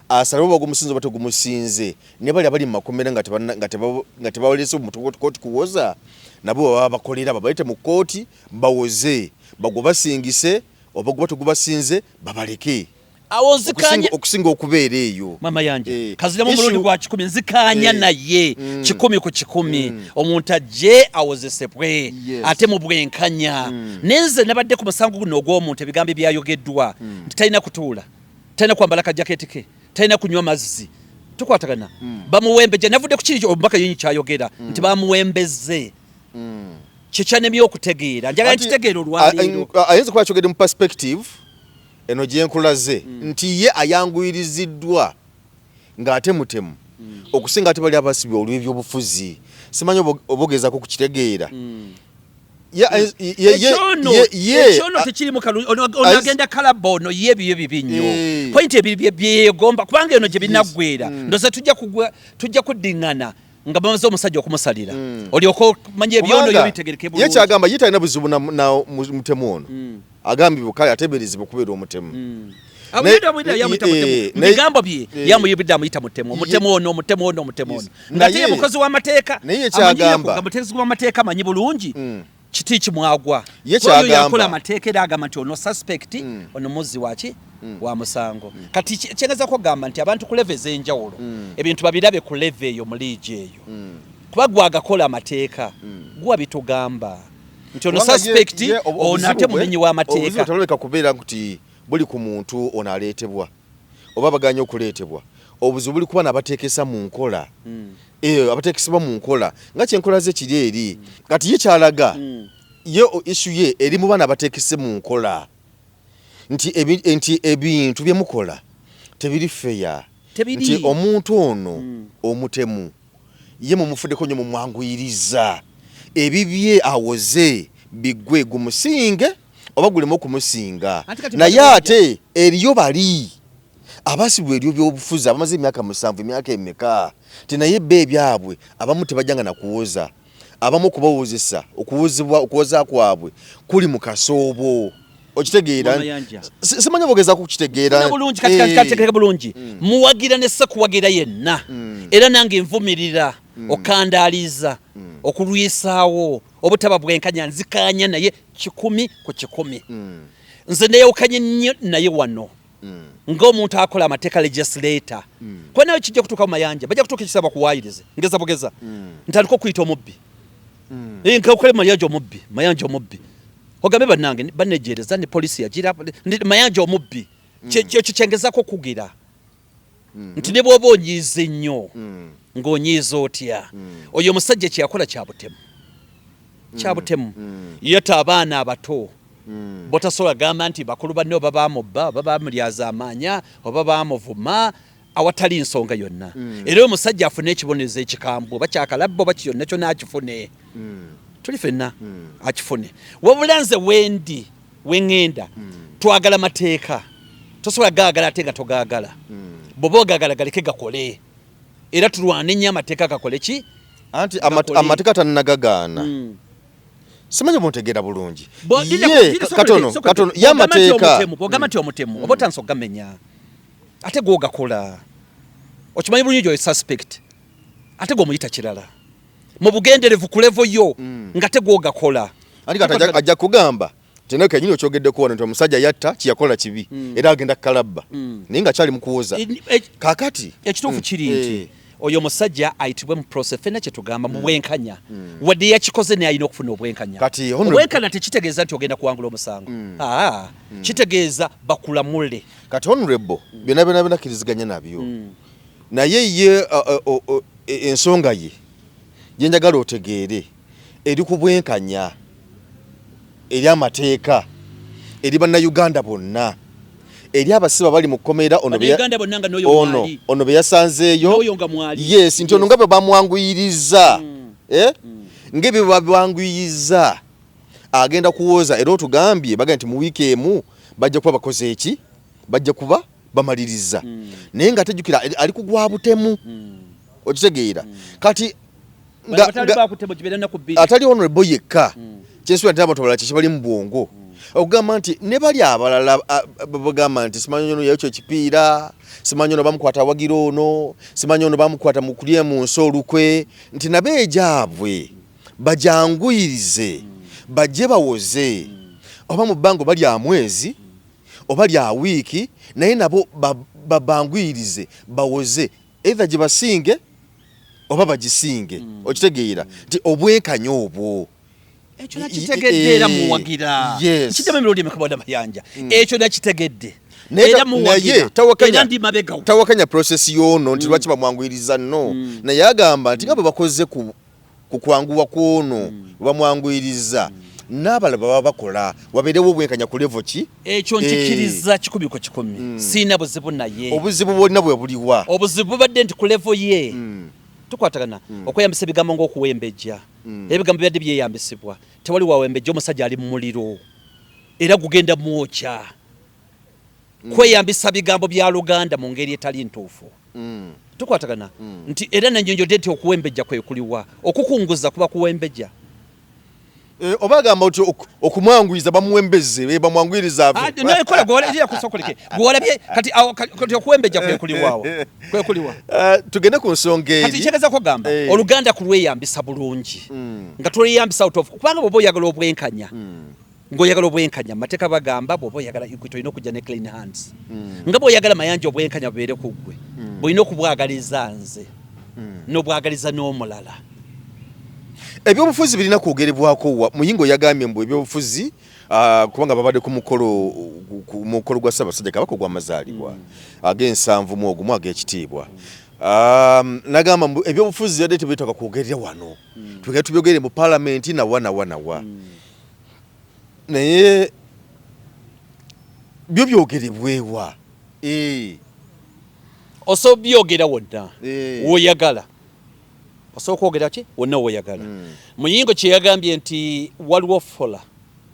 asalawo oba gumusinze oba tegumusinze ne bali abali mu makomera nga tebawalese kooti kuwoza nabo baba bakolera babalete mu kooti bawoze bagwe basingise oba guba tegubasinze babaleke awo nzikanya okusinga okubeera eyo mama yanje eh. kaziramu omulundi gwa kikumi nzikanya eh. naye mm. kikumi ku kikumi mm. omuntu ajje awozesebwe ate mu bwenkanya hmm. nenze nabadde ku musango guno ogw'omuntu ebigambo ebyayogeddwa hmm. nti talina kutuula talina kwambala kajaketi ke talina kunywa mazzi tukwatagana hmm. bamuwembeja navudde ku kiri omubaka yenyi kyayogera nti bamuwembeze kyekyanemye okutegeera njagala nkitegeera olwaleero ayinza kuba akyogedde mu perspective eno gyenkulaze nti ye ayanguyiriziddwa ng'ate mutemu okusinga ate bali abasibye olw'ebyobufuzi simanyi obogezako ku kitegeera ekyono tekirimu onagenda kalaba ono ye ebiyo bibi nnyo eh. pointi ebiri byeyegomba kubanga eno gye binaggwera mm. ndoza tujja kuddingana nga bamaze omusajja okumusalira mm. olyoka omanya ebyono yo bitegereke bulungi. Ye kyagamba ye talina buzibu na, na mutemu ono mm. agambibwa kale ateberezebwa okubeera omutemu mm. bigambo bye yamuyibidde amuyita mutemu omutemu ono omutemu ono omutemu ono ngate ye mukozi w'amateeka amanyiyokuga muteezi w'amateeka amanyi bulungi mm. kiti kimwagwa ye kyagamba amateeka era agamba nti ono suspect mm. ono muzzi waki mm. wa musango mm. kati kyengeza kugamba nti abantu ku leve ez'enjawulo mm. ebintu babirabe ku leve eyo mu liigi eyo mm. kuba gwagakola amateeka mm. guwa bitugamba nti ono suspect ono ate mumenyi w'amateeka taloleka kubeera nti buli ku muntu ono aleetebwa oba baganya okuleetebwa obuzibu buli kuba nabateekesa mu nkola mm. eyo eh, abatekesebwa mu nkola nga kyenkola ze kiri eri kati ye kyalaga hmm. ye issu ye eri mu baana abatekese mu nkola nti nti ebintu bye mukola tebiri feya nti omuntu ono hmm. omutemu ye mumufuddeko nyo mumwanguyiriza ebibye awoze bigwe gumusinge oba gulemu okumusinga naye ate eriyo bali Abasibwa elyo byobufuzi abamaze emyaka musanvu emyaka emeka ti naye bbo ebyabwe abamu tebajanga nakuwoza abamu okubawozesa okuwozebwa okuwoza kwabwe kuli mukasoobo okitegeera simanyi bogeza kukitegeera eh. bulungi mm. muwagira ne sekuwagira yenna mm. era nange nvumirira mm. okandaaliza okulwisaawo obutaba bwenkanya nzikaanya naye kikumi ku kikumi nze neyawukanye nnyo naye wano mm. nga omuntu akola amateeka legislator mm. kuba nawe kijja kutuuka mu mayanja bajja kutuuka ekisaba kuwayirize ngeza bugeza mm. ntandika okuyita omubbi mm. e, nkakole mayanja omubbi mayanja omubbi ogambe bannange banejereza ne polisi yagira mayanja omubbi mm. kyekyo kyengezako okugira mm. nti ne bwoba onyiize nnyo mm. ng'onyiiza otya mm. oyo omusajja kyeyakola kyabutemu mm. kyabutemu mm. yeta abaana abato mm. botasobola gamba nti bakulu banne oba bamubba oba bamulyazamaanya oba bamuvuma awatali nsonga yonna mm. era omusajja afune ekibonerezo ekikambwe oba kyakalabba oba kiyonna kyona akifune mm. tuli fenna mm. akifune wabula nze wendi wengenda twagala mateeka tosobola gaagala ate nga togaagala bwoba ogagala galeke gakole era tulwane nnyo amateeka gakole ki anti amateeka tannagagaana hmm. simanyi buntegeera bulungi katono katono ye amateeka ogamba nti omutemu hmm. oba otansa okugamenya ate gwogakola okimanyi bulungi gyoyo suspect ate gwomuyita kirala mu bugenderevu ku levo yo mm. nga tegwogakola ajja kugamba tena kenyini okyogedde kuwona nti omusajja yatta kiyakola kibi mm. era agenda kukalabba mm. naye nga kyali mukuwoza e- kakati ekituufu mm. kiri nti eh. oyo musajja ayitibwe mu prose fena kyetugamba mu mm. bwenkanya mm. wadde yakikoze naye alina okufuna obwenkanya obwenkanya tekitegeeza nti ogenda kuwangula omusango mm. ah, kitegeeza bakulamule kati honorable byona byona binakiriziganya nabyo Naye ye ensonga ye gyenjagala otegeere eri ku bwenkanya eri amateeka eri bannayuganda bonna eri abasibe abali mu kkomera ono ono beyasanzeeyo yes nti ono nga bwe bamwanguyiriza mm. eh? mm. nga ebyo bwebabwanguyiza agenda kuwooza era otugambye bagambye nti mu wiiki emu bajja kuba bakoze eki bajja kuba bamaliriza mm. naye nga tejukira ali kugwa butemu mm. okitegeera mm. kati atali honorable yekka mm. kyensubira nti abantu abalala kyekibali mu bwongo mm. okugamba nti ne bali abalala bagamba nti simanyi ono yekyo ekipiira simanyi ono bamukwata awagira ono simanyi ono bamukwata mu kulya mu nsi olukwe nti nabo egyabwe bajanguyirize bajje bawoze oba mu bbango balya mwezi oba lya wiiki naye nabo babanguyirize bawoze eitha gyebasinge oba bagisinge mm. okitegeera nti obwenkanya obwo ekyo nakitegedde era muwagira kiddamu emirundi emeka bwana mayanja mm. ekyo nakitegedde tawakanya process yono nti mm. lwaki bamwanguyiriza no naye agamba nti nga bwe bakoze ku ku kwanguwa kwono mm. webamwanguyirizza mm. n'abala baba bakola wabeerewo obwenkanya ku levo ki ekyo eh. nkikiriza kikumi ku kikumi mm. siina buzibu naye obuzibu bwolina bwe buliwa obuzibu bubadde nti ku levo ye mm. tukwatagana mm. okweyambisa ebigambo ng'okuwembejja mm. ebigambo byadde byeyambisibwa tewali wawembejja omusajja ali mu muliro era gugenda mwokya mm. kweyambisa bigambo bya luganda mu ngeri etali ntuufu mm. tukwatagana mm. nti era nanyonjodde nti okuwembejja kwekuliwa okukunguza kuba kuwembejja Eh, oba agamba nti okumwanguyiza bamuwembeze eh, bamwanguyiriza ah, eh, tugende ku nsonga erikyegezakugamba oluganda kulweyambisa bulungi hmm. nga tulweyambisa kubanga bwoba oyagala obwenkanya hmm. Ngoyagala obwenkanya mateka bagamba bwoba oyagala equity olina okujja ne clean hands mm. nga bwoyagala mayanja obwenkanya bubeere ku ggwe mm. bwolina okubwagaliza nze mm. nobwagaliza n'omulala ebyobufuzi birina kwogerebwako wa muyingo yagambye mbu ebyobufuzi uh, kubanga babadde ku mukolo ku mukolo gwa ssabasajja kabaka ogwamazaalibwa mm. ag'ensanvu mu ogumu ag'ekitiibwa mm. Um, nagamba mbu ebyobufuzi yadde tebetaka kwogerera wano mm. tugenda tubyogere mu palamenti nawa nawa nawa mm. naye byo byogerebwewa eh. osobola byogera wonna eh. woyagala osobola kwogera ki wonna woyagala hmm. muyingo kyeyagambye nti waliwo fola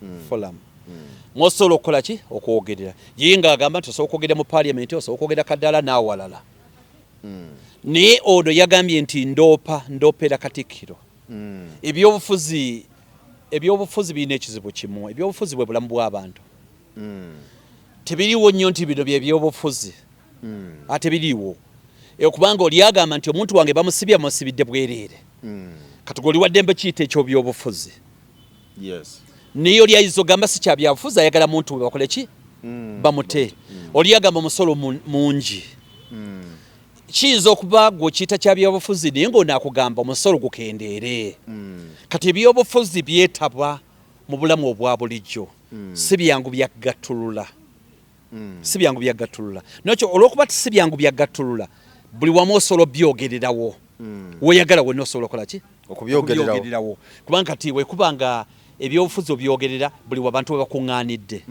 hmm. folamu hmm. mwosobola okukola ki okwogerera ye nga agamba nti osobola okwogera mu paliamenti osobola okwogera kaddala n'awalala naye ono yagambye nti ndoopa ndoopera katikkiro mm. ebyobufuzi ebyobufuzi birina ekizibu kimu ebyobufuzi bwe bulamu bw'abantu mm. tebiriwo nnyo nti bino byebyobufuzi mm. ate biriwo okubanga oli agamba nti omuntu wange bamusibye amusibidde bwereere mm. kati gwe oli waddembe kiyita ekyobyobufuzi yes. naye oli ayinza ogamba si kyabyabufuzi ayagala muntu we bakole ki mm. bamute mm. oli agamba omusolo mungi mm. kiyinza okuba gwe okiyita kya byobufuzi naye ng'ono akugamba omusolo gukendeere hmm. kati ebyobufuzi byetabwa mu bulamu obwa bulijjo hmm. si byangu byagattulula hmm. si byangu byagattulula nokyo olwokuba ti si byangu byagattulula buli wamu osobola obyogererawo woyagala wena osobola okola ki okubyogererawo kubanga kati wekuba nga ebyobufuzi obyogerera buli wabantu webakuŋŋanidde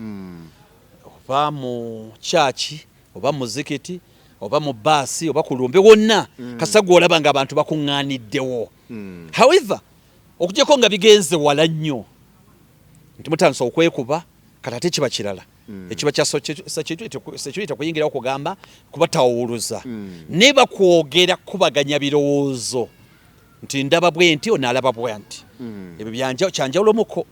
oba mu kyaki oba muzikiti oba mu baasi oba ku lumbe wonna mm. kasita gwolaba nga abantu bakuŋŋaaniddewo mm. however okujjako nga bigenze wala nnyo nti mutandisa okwekuba kati ate kiba kirala mm. ekiba kya security okuyingirawo kugamba kubatawuluza mm. ne bakwogera kubaganya birowoozo nti ndaba bwenti onalaba bwanti hmm. ebyo byanja kyanjawulo muko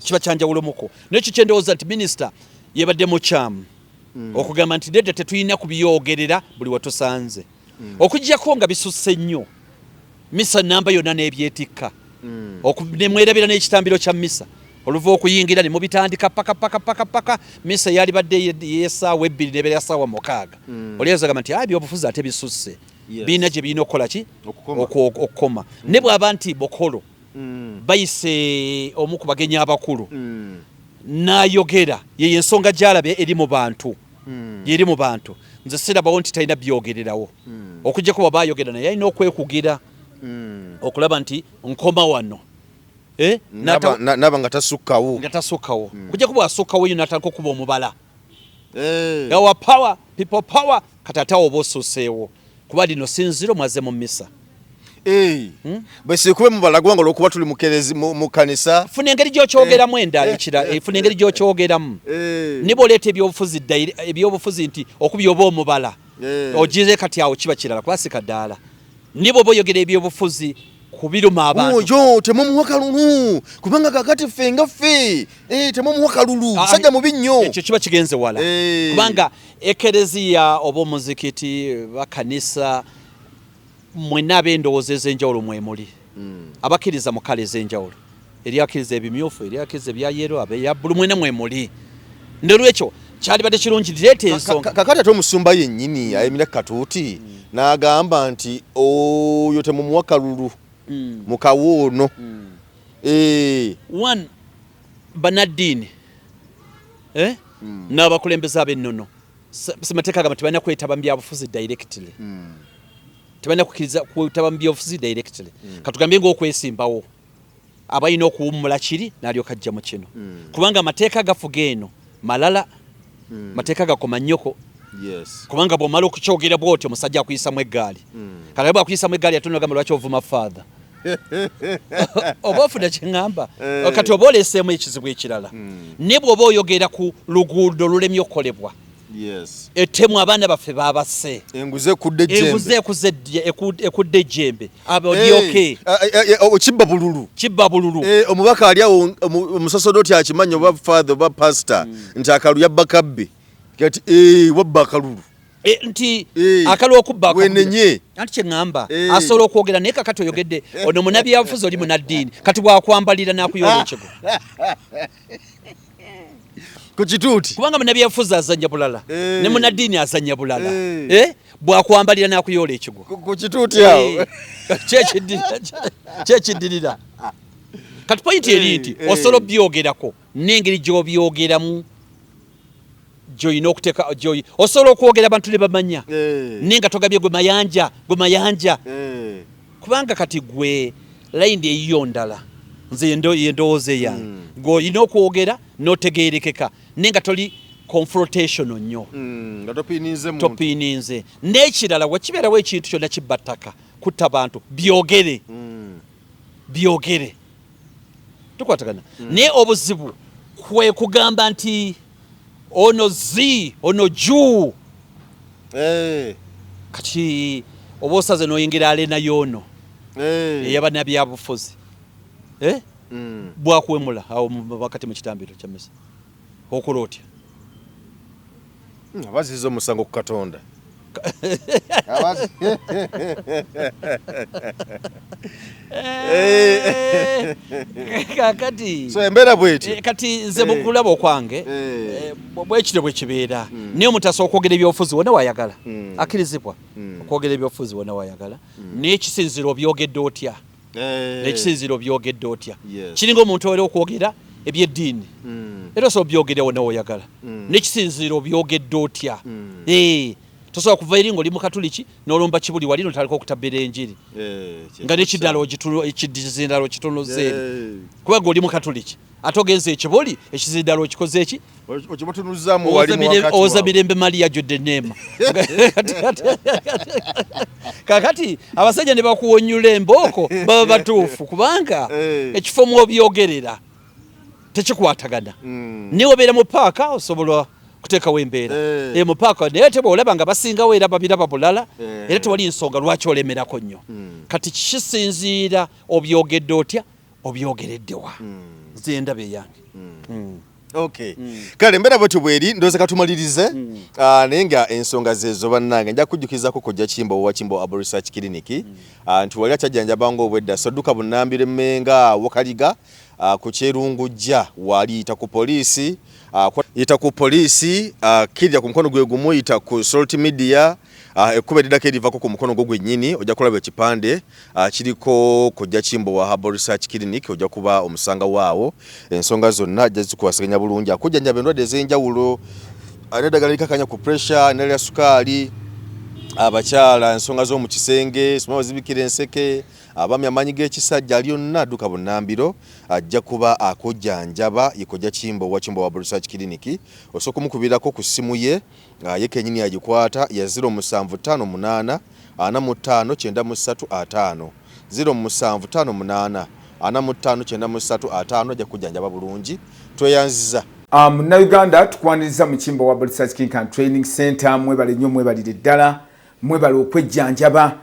kiba kyanjawulo muko nekyo kyendowooza nti minisita yebadde mukyamu hmm. okugamba nti dede tetulina kubiyogerera buli watusanze hmm. okujjako nga bisusse nnyo misa namba yonna nebyetikka nemwerabira n'ekitambiro kya misa oluva okuyingira ne mubitandika paka paka paka paka misa yalibadde yesaawa ebbiri nebeera saawa mukaaga oliyazagamba nti ayi byobufuzi ate bisusse birina gye birina okukola ki okukoma mm. ne bwaba nti bokolo mm. bayise omu ku bagenyi abakulu mm. nayogera yeyo ensonga gyalabye eri mu bantu yeri mu bantu nze sirabawo nti talina byogererawo okujjako baba ayogera naye alina okwekugira okulaba nti nkoma wano eh? naba nga tasukkawo okujjako bwasukkawo yo natandika okuba omubala hey. Eh. our power people power katata oba osuseewo kuba lino sinziro mwaze mu misa hey. Eh. hmm? bwesikube mubalagwa nga olwokuba tuli mukerezi mu kanisa funa engeri gyokyogeramu hey. Eh. endala ekira hey. funa engeri gyokyogeramu hey. niba oleeta ebyobufuzi ebyobufuzi nti okubya oba omubala hey. ogize kati awo kiba kirala kuba sikadaala Naye bw'oba oyogera ebyobufuzi ku biruma abantu. Oyo temumuwa kalulu kubanga kakati ffe nga ffe eh, temumuwa kalulu ah, musajja mubi nnyo. Ekyo kiba kigenze wala eh. kubanga ekereziya oba omuzikiti bakanisa mwenna ab'endowooza ez'enjawulo mwemuli. mm. abakiriza mu kale ezenjawulo eri akiriza ebimyufu eri akiriza ebya yero abeya bulu mwena mwe muli nolwekyo kyalibadde kirungi direeta ensonga kakati ate omusumba yennyini ayemira katuuti mm. n'agamba nti oyo temumuwa kalulu mm. mu kawo ono mm. eh. one banaddiini eh? mm. n'abakulembeze ab'ennono semateeka agamba tebalina kwetaba mu byabufuzi directly mm. tebalina kukkiriza kwetaba mu byobufuzi directly mm. katugambye ngaokwesimbawo abalina okuwummula kiri nalyoka ajja mu kino mm. kubanga amateeka agafuga eno malala mm. mateeka gakoma nnyoko yes. kubanga bwomala okukyogera bwotyo omusajja akuyisamu eggaali mm. kalabe akuyisamu eggaali atunagamba lwaki ovuma father oba ofuna kyeŋamba hey. Eh. kati oba oleeseemu ekizibu ekirala mm. ne bwoba oyogera ku luguudo lulemye okukolebwa etemu abaana baffe babase enguze ekuze ekudde ejjembe eh, eh, eh, kibba bululu kibba bululu omubaka ali awo omusasodoti akimanya oba father oba pastor hmm. nti akalu yabba kabbe kati wabba akalulu E, nti e, akali okubbawenenye anti kyeŋŋamba e. asobola okwogera naye kakati oyogedde ono munabyabufuzi oli munaddiini kati bwakwambalira nakuyola ekigo ku kituuti kubanga munabyafuzi azanya bulala eh. ne munaddiini azanya bulala eh. Eh? bwakwambalira nakuyoola ekigwo ku kituuti awo kyekiddirira kati pointi eri nti osobola obyogerako n'engeri gyobyogeramu gyoyina okuteka gyoyi osobola okwogera abantu ne bamanya eh. naye nga togabye gwe mayanja gwe mayanja eh. kubanga kati gwe layindi eyiyo ndala nze yendowooza eyange hmm. gwe olina okwogera notegeerekeka naye nga toli confrontation nnyo hmm, topiininze n'ekirala wekibeerawo ekintu kyonna kibba ttaka kutta bantu byogere hmm. byogere tukwatagana mm. naye obuzibu kwe kugamba nti ono zi ono juu hey. Eh. kati oba osaze noyingira alena yono hey. Eh. eyaba nabyabufuzi eh? mm. bwakuwemula awo wakati mu kitambiro kyamisa Okola otya? Hmm, abaziza omusango ku Katonda. Eh. kakati so embeera bweti eh, kati nze eh. mukulaba okwange bwekityo bwekibeera hmm. naye omutasa okwogera ebyobufuzi wona wayagala hmm. akkirizibwa hmm. okwogera ebyobufuzi wona wayagala naye kisinzira obyogedde otya eh. nekisinziro byogedde otya kiringa omuntu owera okwogera ebyeddiini hmm. era osobola byogerewo nawe oyagala hmm. nekisinziro byogedde otya hmm. eh, tosobola kuva eri ngaoli mukatuliki nolomba kibuli wali notandika okutabera enjiri eh, nga nekidalo ekidizindalo kitonozeeri kubanga oli mukatuliki ate ogenze ekiboli ekiziri ddala okikoze eki owoza mirembe mali yajjudde neema kakati abasajja ne bakuwonyula embooko baba batuufu kubanga eh. ekifo mwobyogerera tekikwatagana hmm. naye wabeera mu paaka osobola kuteekawo embeera eh. Eh, mu paaka naye te bwolaba nga basingawo era babiraba bulala era tewali nsonga lwaki olemerako nnyo hmm. kati kisinziira obyogedde otya obyogeredde wa nze ndaba eyange Okay. Mm. Kale mbera bwetyo bweri ndoze katumalirize mm. uh, naye nga ensonga zezo bannange nja kujjukizako kujja kimbo wa kimbo abo research clinic mm. uh, nti wali akyajjanjaba nga obwedda so dduka bunnambiro mmenga wakaliga uh, ku kyerungujja wali yita ku poliisi uh, yita ku poliisi uh, kirya ku mukono gwe gumu yita ku salt media Ah, ekkubo eriddako erivako ku mukono gwo gwennyini ojja kulaba ekipande ah, kiriko kojja kimbowa herbal research clinic ojja kuba omusanga waawo ensonga zonna ajja zikuwasaganya bulungi akujjanjaba endwadde ez'enjawulo ah, neddagala likakanya ku pressure nerya sukaali abakyala ensonga z'omu kisenge sima bazibikira enseke abami amaanyi g'ekisajja ali onna adduka bunnambiro ajja kuba akujjanjaba yekojja kimbowa kimbowa herbal research clinic osooka omukubirako ku ssimu ye nga ye kenyini agikwata ya 0758 ana mu ttaano kyenda mu ssatu ataano, ziro musanvu ttaano munaana ana mu ttaano kyenda mu ssatu ataano ajja kukujjanjaba bulungi. Tweyanziza. A Munnayuganda tukwaniriza mu kimbo wa Bolisazi Kinkan Training Center mwebale nnyo mwebalire ddala mwebale okwejjanjaba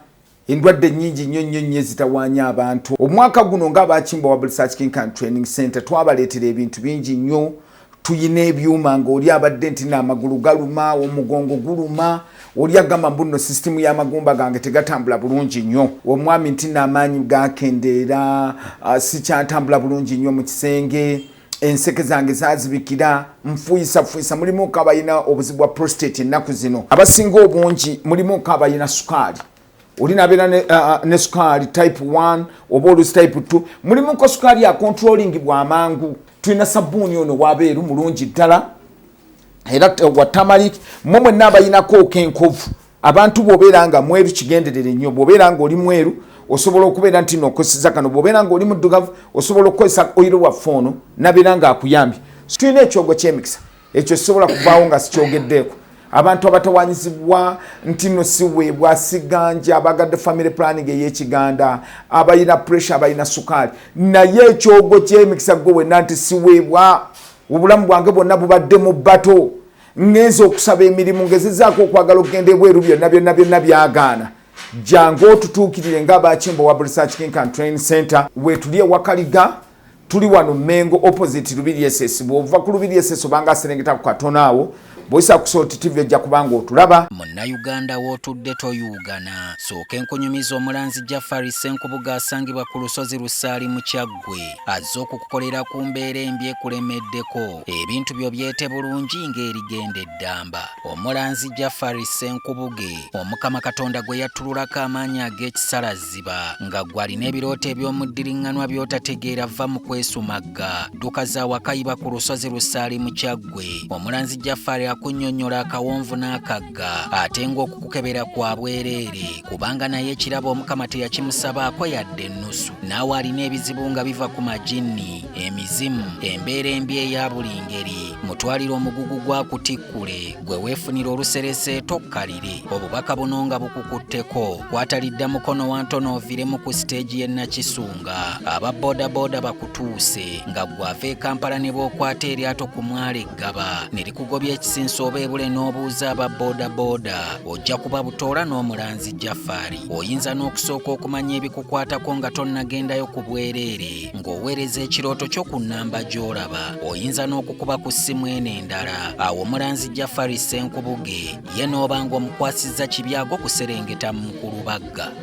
Endwadde nnyingi nnyo nnyo nnyo ezitawaanya abantu. Omwaka guno nga abaakimba wa Bulsac King Khan Training Center twabaleetera ebintu bingi nnyo. Tuyina ebyuma ng'oli abadde nti n'amagulu galuma, omugongo guluma, oli agamba mbu nno sisitimu y'amagumba gange tegatambula bulungi nnyo. Omwami nti n'amaanyi gaakendeera, ah, sikyantambula bulungi nnyo mu kisenge. enseke zange zazibikira nfuyisafuyisa mulimu kabalina obuzibu bwa prostate ennaku zino abasinga obungi mulimu kabalina sukaali oli nabeera ne, uh, ne sukaali type 1 oba olusi type 2 mulimuko sukaali ya controlling bwamangu tulina sabbuuni ono wabeeru mulungi ddala era watamalik mwe mwenna abalinako okenkovu abantu bwobeera nga mweru kigenderere nnyo bwobeera nga oli mweru osobola okubeera nti no okozeseza kano bwobeera nga oli muddugavu osobola okukozesa oyiro waffe ono nabeera nga akuyambye tulina ekyogo kyemikisa ekyo sisobola kuvaawo nga sikyogeddeeko abantu abatawanyizibwa nti no siweebwa siganja abagadde family planning eyekiganda abalina pressure abalina sukaali naye ekyogo kyemikisa gwe wenna nti siweebwa obulamu bwange bwonna bubadde mu bato ŋŋenze okusaba emirimu ngezezaako okwagala okugenda ebweru byonna byonna byonna byagaana jangu otutuukirire nga abakimbo wa research kinkan train center wetuli ewakaliga tuli wano mengo opposite lubiri esesi bwova ku lubiri esesi obanga aserengeta ku katono awo bwoyisa ku salt tv ojja kubanga otulaba munnayuganda w'otudde toyuugana sooka enkunyumiza omulanzi jafari senkubuga asangibwa ku lusozi lusaali mu kyaggu gwe azze okukukolera ku mbeera embi ekulemeddeko ebintu byo byete bulungi ng'erigenda eddamba omulanzi jafari senkubuge omukama katonda gwe yattululako amaanyi ag'ekisalazziba nga gw'alina ebirooto eby'omuddiriŋŋanwa by'otategeera vva mu kwesumagga dduka za wakayiba ku lusozi lusaali mu kyaggwe omulanzi jafari akunnyonnyola akawonvu n'akagga mugagga ate ng'okukukebera kwa bwereere kubanga naye ekirabo omukama teyakimusabaako yadde ennusu naawe alina ebizibu nga biva ku majinni emizimu embeera embi eya buli ngeri mutwalire omugugu gwa kutikkule gwe weefunira oluserese tokkalire obubaka buno nga bukukutteko kwatalidda mukono wa ntono oviremu ku siteegi y'e nakisunga aba bodaboda bakutuuse nga gwava e kampala ne bookwata eryato ku mwale gaba ne likugobya ekisinsa oba ebule n'obuuza aba boodabooda ojja kuba butoola n'omulanzi jafari oyinza n'okusooka okumanya ebikukwatako nga tonnagendayo ku bwereere ng'oweereza ekirooto kyo ku nnamba gy'olaba oyinza n'okukuba ku ssimu eno endala awo omulanzi jafari senkubuge ye n'oba ng'omukwasizza kibyago kuserengeta mu mukulubagga